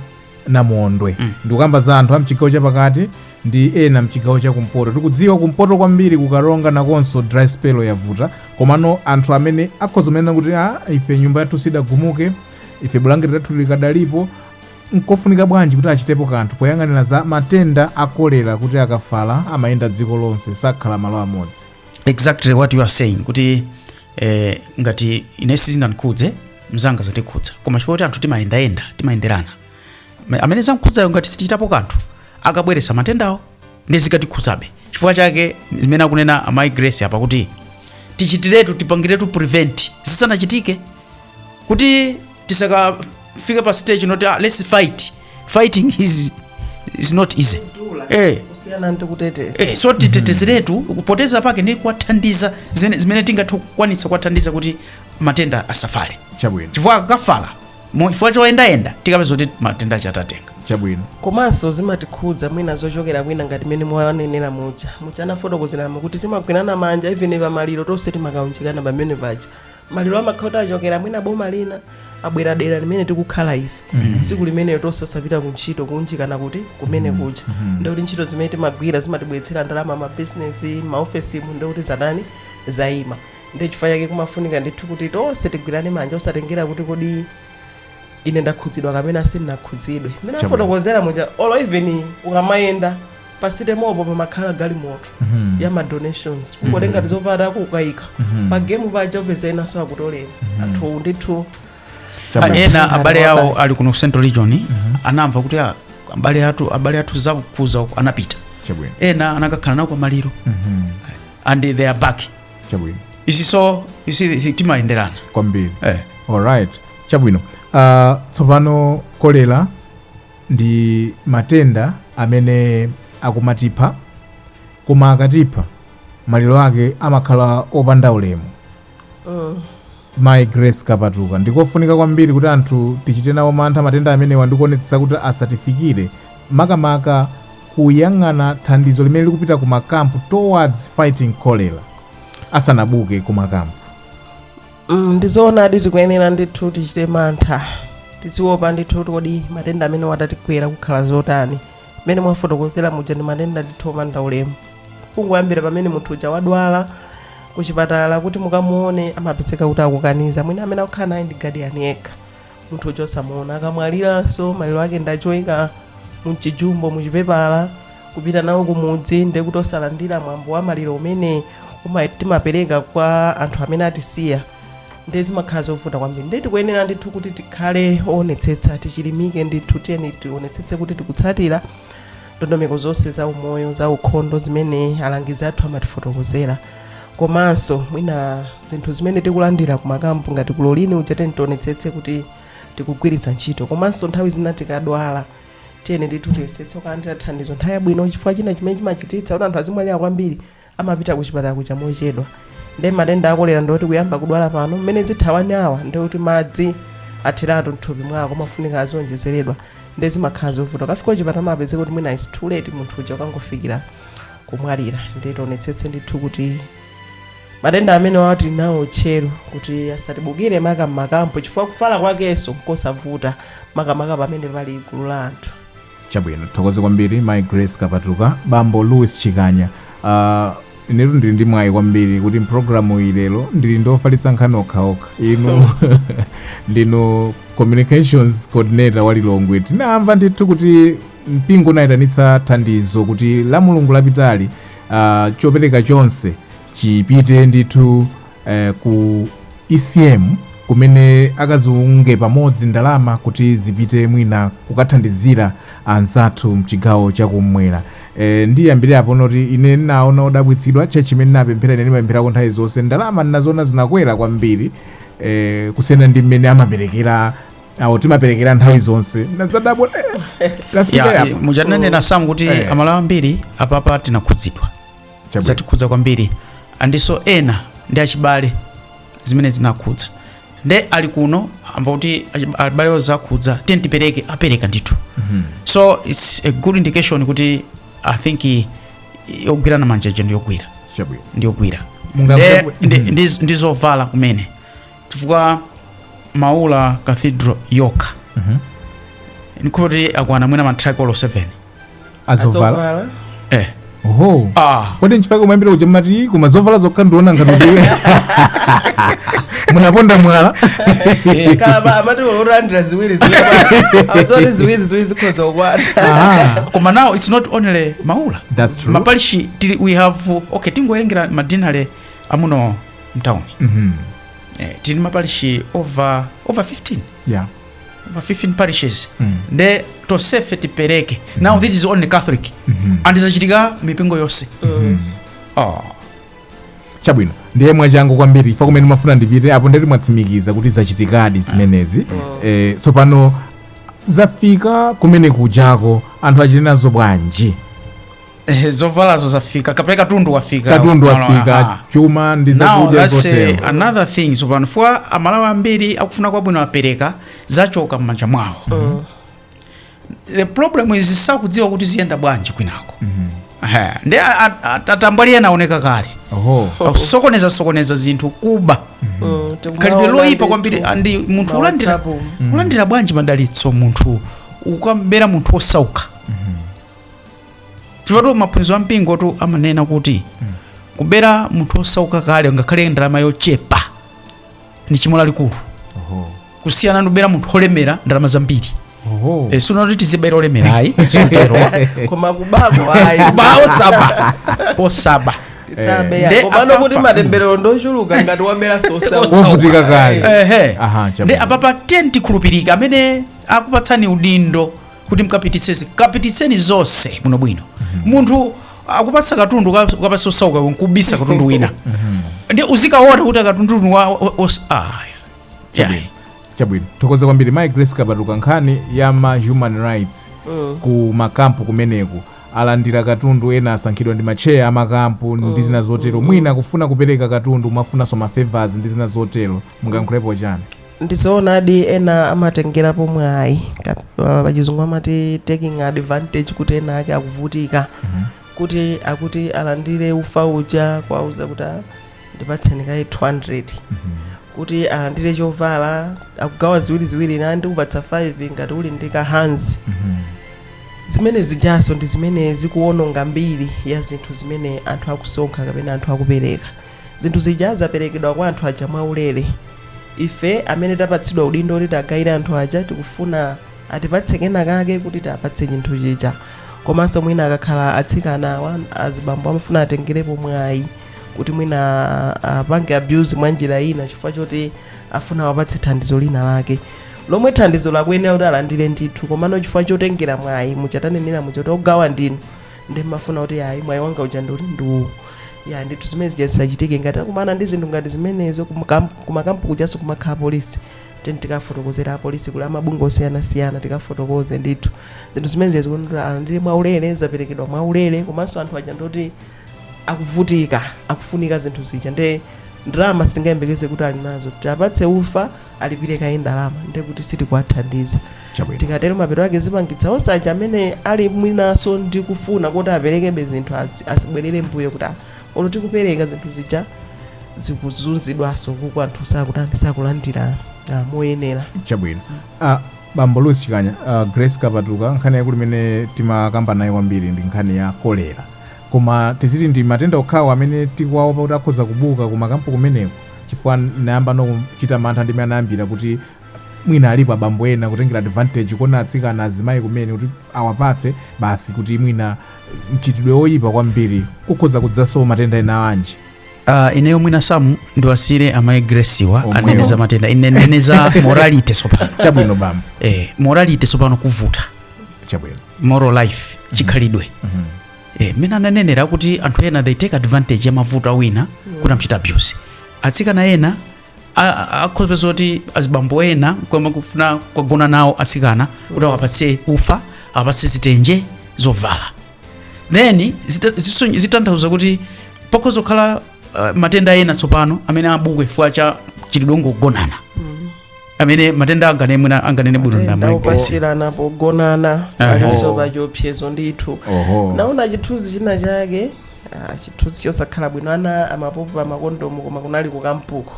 namondwe Mm. ndikukamba za anthu a mchigawo chapakati ndi ena mchigawo cha kumpoto tikudziwa kumpoto kwambiri ku Karonga nakonso dry spell yavuta komano anthu amene akhoza kunena kuti a ife nyumba yathu sidagumuke ife bulangeti lathu likadalipo nkofunika bwanji kuti achitepo kanthu poyang'anira za matenda a kolera kuti akafala amayenda dziko lonse sakhala malo amodzi exactly what you are saying kuti eh, ngati ine sizinandikhudze mzanga zamkhudza koma chifukwa kuti anthu timayendayenda timayenderana Ma- amene zamkhudzayo ngati sitichitapo kanthu akabweresa matendawo nde zikatikhudzabe chifukwa chake zimene akunena amayi grace apa kuti tichitiretu tipangiretu prevent zisanachitike kuti tisakafike pa stage yoti ah, let's fight fighting is, is not easy eh. kusiyana ndi kuteteza Eh, so titetezeretu kuteteza kwake ndi kuwathandiza zene- zimene tingathe kukwanitsa kuwathandiza kuti matenda asafale chabwino chifukwa akafala mu- chifukwa choyendayenda tikapeza kuti matenda aja tatenga chabwino komanso zimatikhudza mwina zochokera kwina ngati mmene mwanenera muja muja munafotokozeramo kuti timagwirana manja even pamaliro tonse timakaunjikana pamene paja maliro amakhala kuti achokera mwina boma lina abwera dera limene tikukhala ife tsiku limenelo tonse osapita ku ntchito kunjikana kuti kumene kuja ndikuti ntchito zimene timagwira zimatibweretsera ndalama mabizinesi maofesimu ndikuti zatani zayima ndi chifukwa chake kumafunika ndithu kuti tonse tigwirane manja osatengera kuti kodi ine ndakhudzidwa kapena sindinakhudzidwe mmene afotokozera muja olo even ukamayenda pa stage-po pamakhala galimoto Mhm. ya ma donations kungotenga tizovala kukaika Mhm. pa game paja mupeza enanso akutolera anthu ndithu Chama. Ah, ena abale awo Wabasi. ali kuno ku central region anamva kuti ah, abale athu abale athu zawakhudza uko anapita chabwino ena anakakhala nawo pamaliro Mhm. and they are back chabwino izi so isi timayenderana kwambiri eh. alright chabwino uh, tsopano kolera Ndi matenda amene akumatipha, koma akatipha maliro ake amakhala opanda ulemu. Mayi Grace Kapatuka, ndikofunika kwambiri kuti anthu tichite nawo mantha matenda amenewa ndi kuonetsetsa kuti asatifikire, makamaka kuyang'ana thandizo limene likupita ku makampu towards fighting cholera asanabuke ku makampu. Mm, ndizoonadi tikuyenera ndithu tichite mantha tiziwopa ndithu kuti kodi matenda amenewa atatigwera kungakhale zotani mmene mwafotokozera muja ndi matenda ndithu opanda ulemu kungoyambira pamene munthu uja wadwala kuchipatala kuti mukamuone amapezeka kuti akukaniza mwina amene akukhala naye ndi gadiyani yekha munthu uja osamuona akamwaliranso maliro ake ndi choika mu chijumbo muchipepala kupita nawo kumudzi ndiye kuti osalandira mwambo wa maliro umene uma- timapereka kwa anthu amene atisiya ndiye zimakhala zovuta kwambiri ndiye tikuyenera ndithu kuti tikhale oonetsetsa tichilimike ndithu tiyeni tionetsetse kuti tikutsatira ndondomeko zonse za umoyo za ukhondo zimene alangizi athu amatifotokozera komanso mwina zinthu zimene tikulandira kumakampu ngati kulolini uja tiyeni tionetsetse kuti tikugwiritsa ntchito komanso nthawi zina tikadwala tiyeni ndithu tiyesetse kulandira thandizo nthawi yabwino chifukwa china chimene chimachititsa kuti anthu azimwalira kwambiri amapita kuchipatala kuja mochedwa ndi matenda akolera ndikuti kuyamba kudwala pano mmene zitha wani awa ndikuti madzi atheratu mthupi mwako amafunika azionjezeredwa ndi zimakhala zovuta akafika kuchipatala amapezeka kuti mwina is too late munthu uja akangofikira kumwalira ndiye tionetsetse ndithu kuti matenda amenewa tili nawo tcheru kuti asatibukire maka m'makampu chifukwa kufala kwakenso nkosavuta makamaka pamene pali gulu la anthu chabwino ndithokoze kwambiri mai grace kapatuka bambo louis chikanya uh, inetu ndili ndi mwayi kwambiri kuti mpulogalamu iyi lero ndili ndi ofalitsa nkhani okhaokha inu ndinu communications coordinator wa lilongwe tinamva ndithu kuti Mpingo unayitanitsa thandizo kuti la mulungu lapitali ah, chopereka chonse chipite ndithu eh, ku ECM kumene akaziunge pamodzi ndalama kuti zipite mwina kukathandizira anzathu mchigawo chakumwera e, ndiyambire apo nkuti ine ndinali odabwitsidwa tchetchi imene ndinapemphera ine ndimapempherako nthawi zonse ndalama ndinaziona zinakwera kwambiri e, kusiyana ndi mmene amaperekera awo timaperekera nthawi zonse ndinadabwa eh, tafika ya yapa. mujananena sam kuti Eh. amalawi ambiri apapa tinakhudzidwa Chabwino. zatikhudza kwambiri and so ena ndi achibale zimene zinakhudza nde ali kuno amva kuti achi- abale awo zakhudza tiyeni tipereke apereka ndithu so its a good indication kuti i think i- yogwirana manja ija ndiyogwira Chabwino. ndiyogwira Mungamve Nde- ku- ndi- ndi- ndi zovala kumene chifukwa maula cathedral yokha Mhm. ndikuti akwana mwina matraki olo 7 azovala Adzovala. eh oho ah kodi nchifake umayambira kuja mati koma zovala zokha ndiona ngati ndiwe munaponda mwala Eh, Kalaba amati alandira ziwiri ziwiri. Adzoti ziwiri ziwiri zikhoza kukwana. Ah, koma now it's not only maula that's true mapalishi tili we have okay tingowerengera madinale amuno mtauni mm -hmm. eh, tili maparishi over, over 15 yeah. over 15 parishes mm. nde tonsefe tipereke mm -hmm. now this is only catholic mm -hmm. and dzachitika mipingo yonse mm -hmm. oh. chabwino ndiye mwachangu kwambiri chifukwa kumene ndimafuna ndipite apo nditi mwatsimikiza kuti zachitikadi zimenezi mm. eh, tsopano zafika kumene kujako anthu achite nazo bwanji Eh, zovalazo zafika kapena katundu wafika katundu Malo- wafika aha. chuma ndi now zakudya that's eh, zotero another thing tsopano chifukwa amalawi ambiri akufuna kwa bwino apereka zachoka m'manja mwawo the problem is sakudziwa kuti ziyenda bwanji kwinako Ehe, ndi a- a- a- atambwali ena aoneka kale oho akusokoneza sokoneza zinthu kuba Mm, tikumaona khalidwe loyipa ndithu. kwambiri and munthu Ma ulandira WhatsApp. ulandira bwanji madalitso munthu ukabera munthu osauka chifukwa maphunziro a mpingotu amanena kuti kubera munthu osauka kale ngakhale ndalama yochepa ndi chimo lalikulu Oho. kusiyana ndi kubera munthu olemera ndalama zambiri Oho. Eh, sikuti tizibera olemera ayi zotero koma kubako ayi kuba osaba osaba tisabe Nde komano apapa- kuti matemberero ndochuluka ngati wabera osauka Wovutika kale. ehe Aha, chabwino. nde apapa tieni tikhulupirike amene akupatsani udindo kuti mukapititse izi kapititseni zonse bwinobwino munthu akupasa katundu ka- ukapasa osauka nkubisa katundu wina ndi udzikaona kuti akatundu wa o- os- ah, yeah. Chabwino. chabwino thokoza kwambiri mai grace kapatuka nkhani ya ma human rights ku makampu kumeneku alandira katundu ena asankhidwa ndi matcheya a makampu ndi zina zotero mwina akufuna kupereka katundu mwafunanso ma favors ndi zina zotero mungalankhulepo chani ndizoonadi ena amatengerapo mwayi Ka- pa- pachizungu amati taking advantage kuti ena ake akuvutika kuti akuti alandire ufa uja kwauza kuti "Ah, ndipatseni kaye 200 kuti alandire chovala akugawa ziwiri ziwiri na ndikupatsa five ngati uli ndi ka hanzi zimene zijanso ndi zimene zikuwononga mbiri ya zinthu zimene anthu akusonkha kapena anthu akupereka zinthu zija zaperekedwa kwa anthu aja mwaulere ife amene tapatsidwa udindo kuti tiwagawire anthu aja tikufuna atipatse kena kake kuti tiwapatse chinthu chija komanso mwina akakhala atsikana awa azibambo amafuna atengerepo mwayi kuti mwina apange abuse mwa njira ina chifukwa choti afuna awapatse thandizo lina lake lomwe thandizo lakuyenera kuti alandire ndithu komano chifukwa chotengera mwayi mmatanenera muchoti ogawa ndinu nde ndimafuna kuti ayi mwayi wanga uja ndi uti ndi uwu ayi ndithu zimene zija zisachitike ngati akumana ndi zinthu ngati zimenezo kumakam- kumakampu kujanso kumakhala polisi ten tikafotokozera apolisi kuli amabungwe osiyanasiyana tikafotokoze ndithu zinthu zimene zija zikuyenera alandire mwaulere zaperekedwa mwaulere komanso anthu aja ndi oti akuvutika akufunika zinthu zija nde ndalama sitingayembekeze kuti ali nazo tapatse ufa alipire kaye ndalama ndiye kuti sitikuwathandiza chabwino tikatero mapeto ake zipangitsa onse aja amene ali mwinaso ndi kufuna kuti aperekebe zinthu azi- azibwerere mbuyo kuti "Ah, olo tikupereka zinthu zija zikuzunzidwaso kuti anthu sakutani sakulandira ah, moyenera chabwino ah, bambo lusi chikanya ah, grace kapatuka nkhani yaikulu imene timakambana kwambiri ndi nkhani ya kolera Koma tiziti ndi matenda okhawo amene tikuwaopa kuti akhoza kubuka ku makampu kumeneko? Chifukwa ndinayambanso kuchita mantha ndime anayambira kuti mwina alipo abambo ena kutengera advantage kuona atsikana, azimayi kumeneko kuti awapatse basi kuti mwina mchitidwe oyipa kwambiri kukhoza kudzaso matenda ena ake? Uh, ineyo mwina gawo ndiwasiire amayi grace wa Omwewo. anene za matenda ine ndinene za morality sopano Chabwino bambo, eh, morality sopano kuvuta chabwino. moral life chikhalidwe Mhm. eh, mmene ananenera kuti anthu ena they take advantage ya mavuto a wina kuti amchita abuse atsikana ena a- a- akhoza kupeza kuti azibambo ena kumafuna kugona nawo atsikana kuti awapatse ufa awapatse zitenje zovala then zita- ziso- zitanthauza kuti pakhoza kukhala uh, matenda ena tsopano amene abuke chifukwa cha chilidongo kugonana amene matendawo angane mwina anganene bwino Matenda ndi amayi grace opatsirana pogonana Aha. alinso pachiopsezo ndithu oho naona chithunzi china chake ah, chithunzi chosakhala bwino ana amapopa makondomu koma kunali kukampuko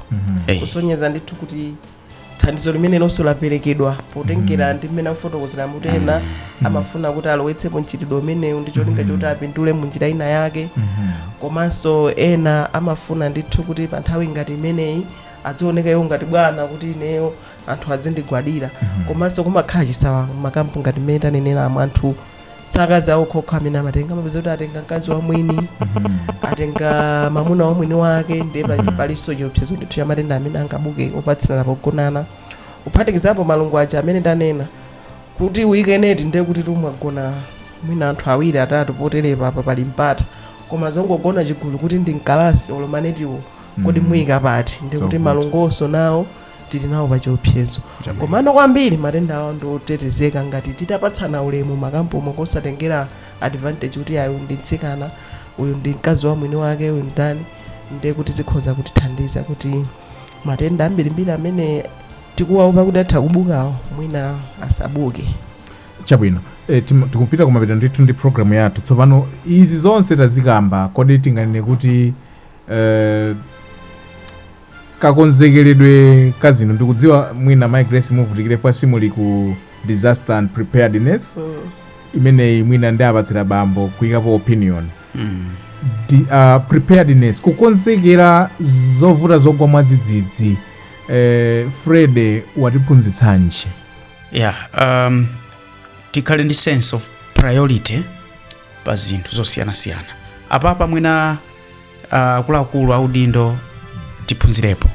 Eh, kusonyeza ndithu kuti thandizo limene lonso laperekedwa potengera ndi mmene akufotokozera kuti ena amafuna kuti alowetsepo mchitidwe umenewu ndi cholinga choti apindule mu njira ina yake komanso ena amafuna ndithu kuti pa nthawi ngati imeneyi adzioneka iwo ngati bwana kuti ineyo anthu adzindigwadira komanso kumakhala chisawawa mmakampu ngati mmene tanenera pamwe anthu akazi awo okhaokha amene amatenga amapeza kuti atenga mkazi wa mwini atenga mamuna wa mwini wake ndiye pali- palinso chiopsezo ndithu cha matenda amene angabuke opatsirana pogonana kuphatikizapo malungo aja amene ndanena kuti uyike neti ndiye kuti tumagona mwina anthu awiri atatu poterepa apa pali mpata koma zongogona chigulu kuti ndi mkalasi olo manetiwo kodi mm. muyikapa ndi ndikuti malungonso nawo tili nawo pa chiopsezo komano kwambiri matenda awo ndi otetezeka ngati titapatsana ulemu m'makampumo kosatengera advantage kuti ayi ndi mtsikana uyu ndi mkazi wa mwini wake uyu ndani ndiye kuti zikhoza kutithandiza kuti matenda ambirimbiri amene tikuwaopa kuti atha kubukawo mwina asabuke chabwino e, tikupita kumapeto ndithu ndi programu yathu tsopano izi zonse tazikamba kodi tinganene kuti Eh, kakonzekeredwe ka zinthu ndikudziwa mwina mai grace muvutikirapo chifukwa simuli ku disaster and preparedness Mm. imeneyi mwina ndiwapatsire bambo kuyikapo opinion Mm. Di, uh, preparedness kukonzekera zovuta zogwa mwadzidzidzi eh, Freddy watiphunzitsanji yeah um, tikhale ndi sense of priority pa zinthu zosiyanasiyana apapa mwina ah, akuluakulu audindo tiphunzirepo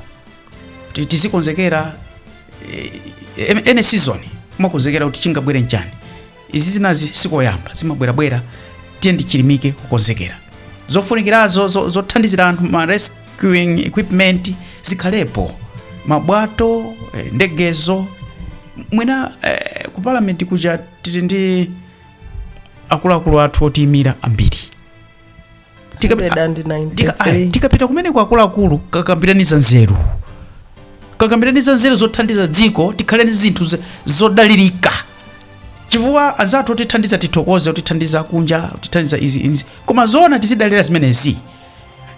Ti- tizikonzekera eh, em- ene season kumakonzekera kuti chingabwere nchani izi zinazi sikoyamba zimabwerabwera tiyeni tichilimike kukonzekera zofunikirazo zo- zothandizira anthu ma rescuing equipment zikhalepo mabwato eh, ndegezo mwina eh, ku parliament kuja tili ndi akuluakulu athu otiyimira ambiri Tikabe- 193. Tika- ayi, tikapita kumeneko akuluakulu kakambiraneni zanzeru kakambiraneni zanzeru zothandiza dziko tikhale ndi zinthu z- zodalirika chifukwa anzathu otithandiza tithokoze otithandiza kunja otithandiza izi izi koma zoona tizidalira zimenezi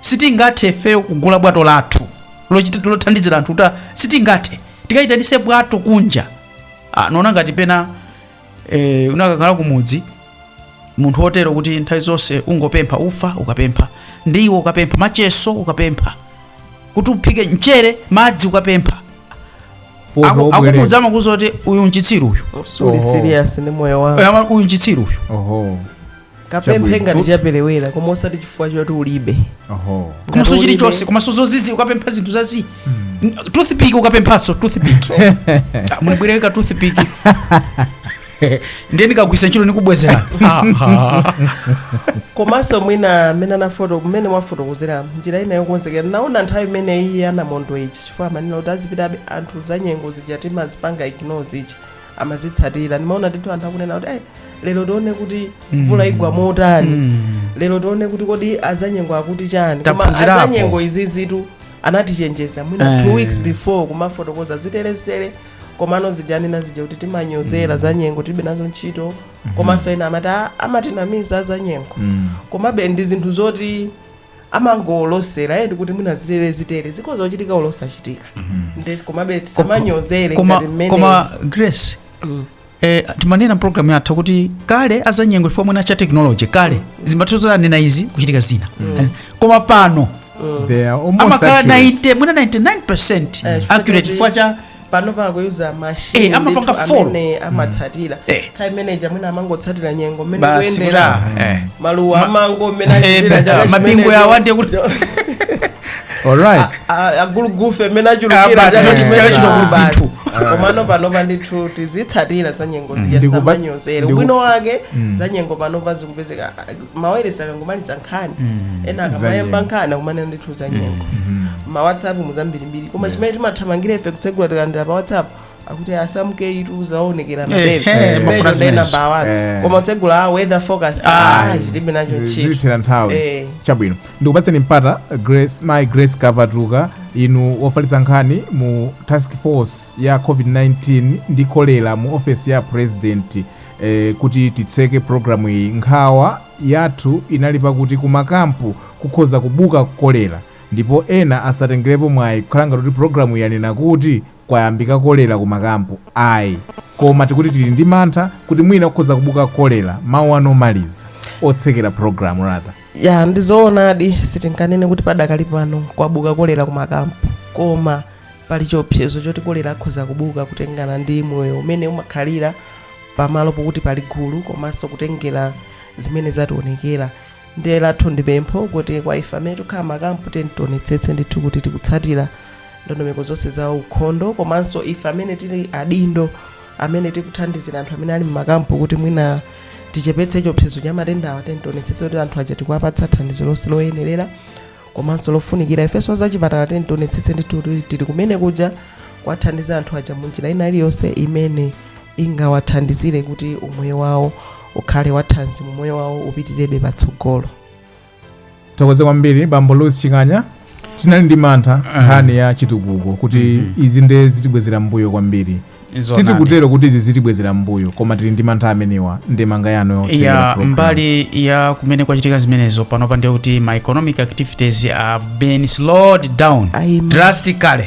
sitingathe ifeyo kugula bwato lathu lochita- lothandizira anthu kuti sitingathe tikayitanise bwato kunja ah, ndikuona ngati pena e, unakakhala kumudzi munthu wotero kuti nthawi zonse ungopempha ufa ukapempha ndiwo ukapempha machesi ukapempha kuti uphike mchere madzi ukapempha Uho, Aku- ubwerere. akumudzi amakuuza kuti uyu nchitsiru uyu Suli Oho. serious ndi moyo wako. Ama- uyu nchitsiru uyu Oho. kapemphe Chabwino. ngati chaperewera koma osati chifukwa choti ulibe oho Ngati komanso ulibe- chilichonse komanso zozizi ukapempha zinthu zazii toothpick ukapemphanso toothpick Ah, munibwereke toothpick ndiye ndikagwisa ntchito nikubwezera komanso mwina mmene anafoto mmene mwafotokozera njira ina yokonzekera naona nthawi imene ya namondweyi chifukwa amanena kuti azipita anthu za nyengo zija timazipanga ignore zija amazitsatira ndimaona ndithu anthu akunena kuti "Ai, lero tione kuti mvula igwa motani Mm. lero tione kuti kodi azanyengo akuti chani koma Taphunzirapo. azanyengo izizitu anatichenjeza mwina Eh. two weeks before kumafotokoza zitere zitere komano zija anena zija kuti timanyozera zanyengo tilibe nazo ntchito komanso ena amati "Ah, amatinamiza azanyengo Mm. komabe ndi zinthu zoti amangolosera eh, ndikuti mwina zitere zitere zitha kuchitika olo osachitika nde komabe tisamanyozere koma, ngati mmene koma grace eh, timanena mpulogalamu yathu kuti kale azanyengo chifukwa mwina cha technology kale zimatheka anena izi kuchitika zina Eh, koma pano They are almost amakhala accurate. 90 mwina 99 Eh, chifukwa accurate choti- chifukwa cha panopa akuyuza machine Eh, amapanga ndithu follow. amene amatsatira Eh. kaya mmene aja amene amangotsatira nyengo mmene Basi ikuyendera kuti, eh. maluwa Ma- amango mmene achitira Eh, chaka mabingu chimenecho. yawo ande kuti alright A- a- agulugufe mmene Ah, achulukira basi, chaka chaka chimenecho. chino kuli Basi. zinthu. komano panopa ndithu tizitsatira za nyengo zija Ndikuba- tisamanyozere ndiku- ubwino wake za nyengo panopa zikupezeka mawayilesi akangomaliza nkhani Mm, ena za akamayamba nyengo. nkhani akumanena ndithu za nyengo ma whatsapp muzambirimbiri koma chimene timathamangira ife kutsegula tikalandira pa whatsapp akuti a samke ee zaonekera Eh, mabere eh, mafuna Mabere zimenezo. namba wani Eh. koma kutsegula a weather forecast Ah. ah tilibe nacho ntchito zitithera nthawi Eh. chabwino ndikupatseni mpata mayi grace kapatuka inu wofalitsa nkhani mu task force ya covid-19 ndi kolera mu ofesi ya president E, kuti titseke programu iyi, nkhawa yathu inali pakuti ku makampu kukhoza kubuka kolera ndipo ena asatengelepo mwayi kukhala ngati kuti programu iyi yanena kuti kwayambika kolera ku makampu ayi koma tikuti tili ndi mantha kuti mwina kukhoza kubuka kolera mawu anu omaliza otsekera programu yathu ya ndizoonadi sitinganene kuti padakali pano kwabuka kolera ku makampu koma pali chiopsezo choti kolera akhoza kubuka kutengana ndi moyo umene umakhalira pamalo pokuti pali gulu komanso kutengera zimene zationekera ndiye lathu ndi pempho kuti kwa ife amene tikukhala mmakampu tiyeni tionetsetse ndithu kuti tikutsatira ndondomeko zonse za ukhondo komanso ife amene tili adindo amene tikuthandizira anthu amene ali mmakampu kuti mwina tichepetse chiopsezo cha matendawa tiyeni tionetsetse kuti anthu aja tikuwapatsa thandizo lonse loyenerera komanso lofunikira ifenso azachipatala tiyeni tionetsetse ndithu kuti tili kumene kuja kuwathandiza anthu aja munjira ina iliyonse imene ingawathandizire kuti umoyo wawo ukhale wathanzi umoyo wawo upitirebe patsogolo tithokoze kwambiri bambo louis chinkhanya tinali ndi mantha nkhani ya chitukuko kuti izi nde zitibwezera mbuyo kwambiri Zoonadi. sitikutero kuti izi zitibwezera mbuyo koma tili ndi mantha amenewa ndemanga yanu yotsekera ya program. mbali ya kumene kwachitika zimenezo panopa ndi kuti ma economic activities have been slowed down Ayi, ma- drastically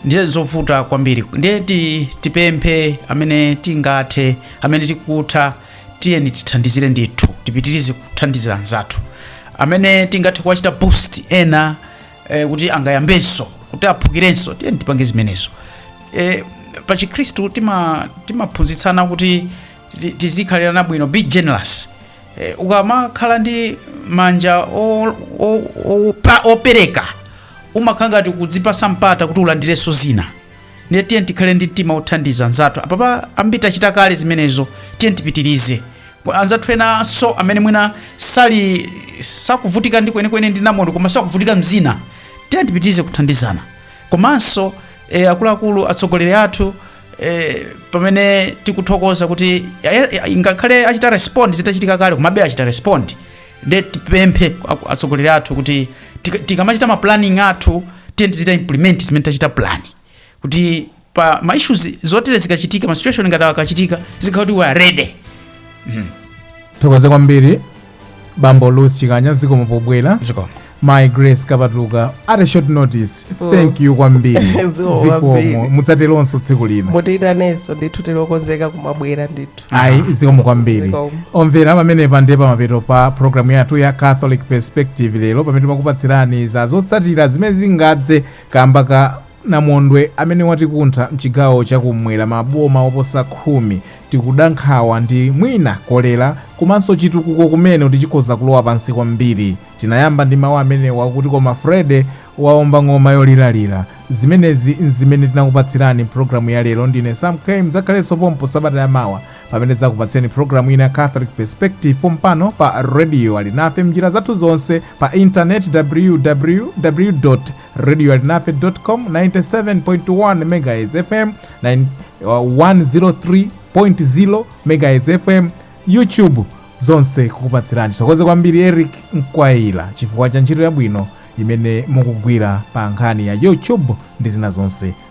nde ndi zovuta kwambiri ndiye ti, tipemphe amene tingathe amene tikutha tiyeni tithandizire ndithu tipitirize kuthandizira anzathu amene tingathe kuwachita boost ena eh, kuti angayambenso kuti aphukirenso tiyeni tipange zimenezo eh, pa chikhristu tima- timaphunzitsana kuti ti- tizikhalirana bwino be generous eh, ukamakhala ndi manja o- o- o- pa- opereka umakhala ngati kudzipatsa mpata kuti ulandirenso zina ndiye tiyeni tikhale ndi mtima othandiza nzathu apapa ambiri tachita kale zimenezo tiyeni tipitirize Anzathu enanso amene mwina sali sakuvutika ndi kwenikweni ndi namondwe koma sakuvutika m'zina, tiyeni tipitirize kuthandizana komanso e, akuluakulu atsogoleri athu e, pamene tikuthokoza kuti ya- ya- ya- ngakhale achita respond zitachitika kale komabe achita respond nde tipemphe aku- atsogoleri athu kuti tika- tikamachita ma planning athu tiyeni tizichita implement zimene tachita plan kuti pa ma issues zotere zikachitika ma situation ngati awa akachitika tizikhala kuti we are ready tithokoze kwambiri bambo luth chikanya zikomo pobwera zikomo mayi grace kapatuka at a short notice Oh. thank you kwambiri Zikomo kwambiri. zikomo mudzateronso tsiku lina mutiitanenso ndithu tili okonzeka kumabwera ndithu ayi zikomo kwambiri Zikomo. omvera pamenepa ndi pamapeto pa programu yathu ya catholic perspective lero pamene timakupatsirani za zotsatira zimene zingadze Kamba ka namondwe amene watikuntha mchigawo cha ku m'mwera ma boma oposa khumi, tikuda nkhawa ndi mwina kolera komanso chitukuko kumene kuti chikhoza kulowa pansi kwambiri. Tinayamba ndi mawu amenewa kuti koma Freddy waomba ng'oma yoliralira. Zimenezi n'zimene tinakupatsirani m'programu ya lero. Ndine Sam K. Mudzakhalenso pompo sabata ya mawa. pamene tidzakupatsireni programu ina ya catholic perspective pompano pa radio alinafe mnjira zathu zonse pa intaneti www radio alinafe com 97.1 megahertz fm 103.0 megahertz fm youtube zonse kukupatsirani tithokoze kwambiri eric mkwayira chifukwa cha ntchito yabwino imene mukugwira pa nkhani ya youtube ndi zina zonse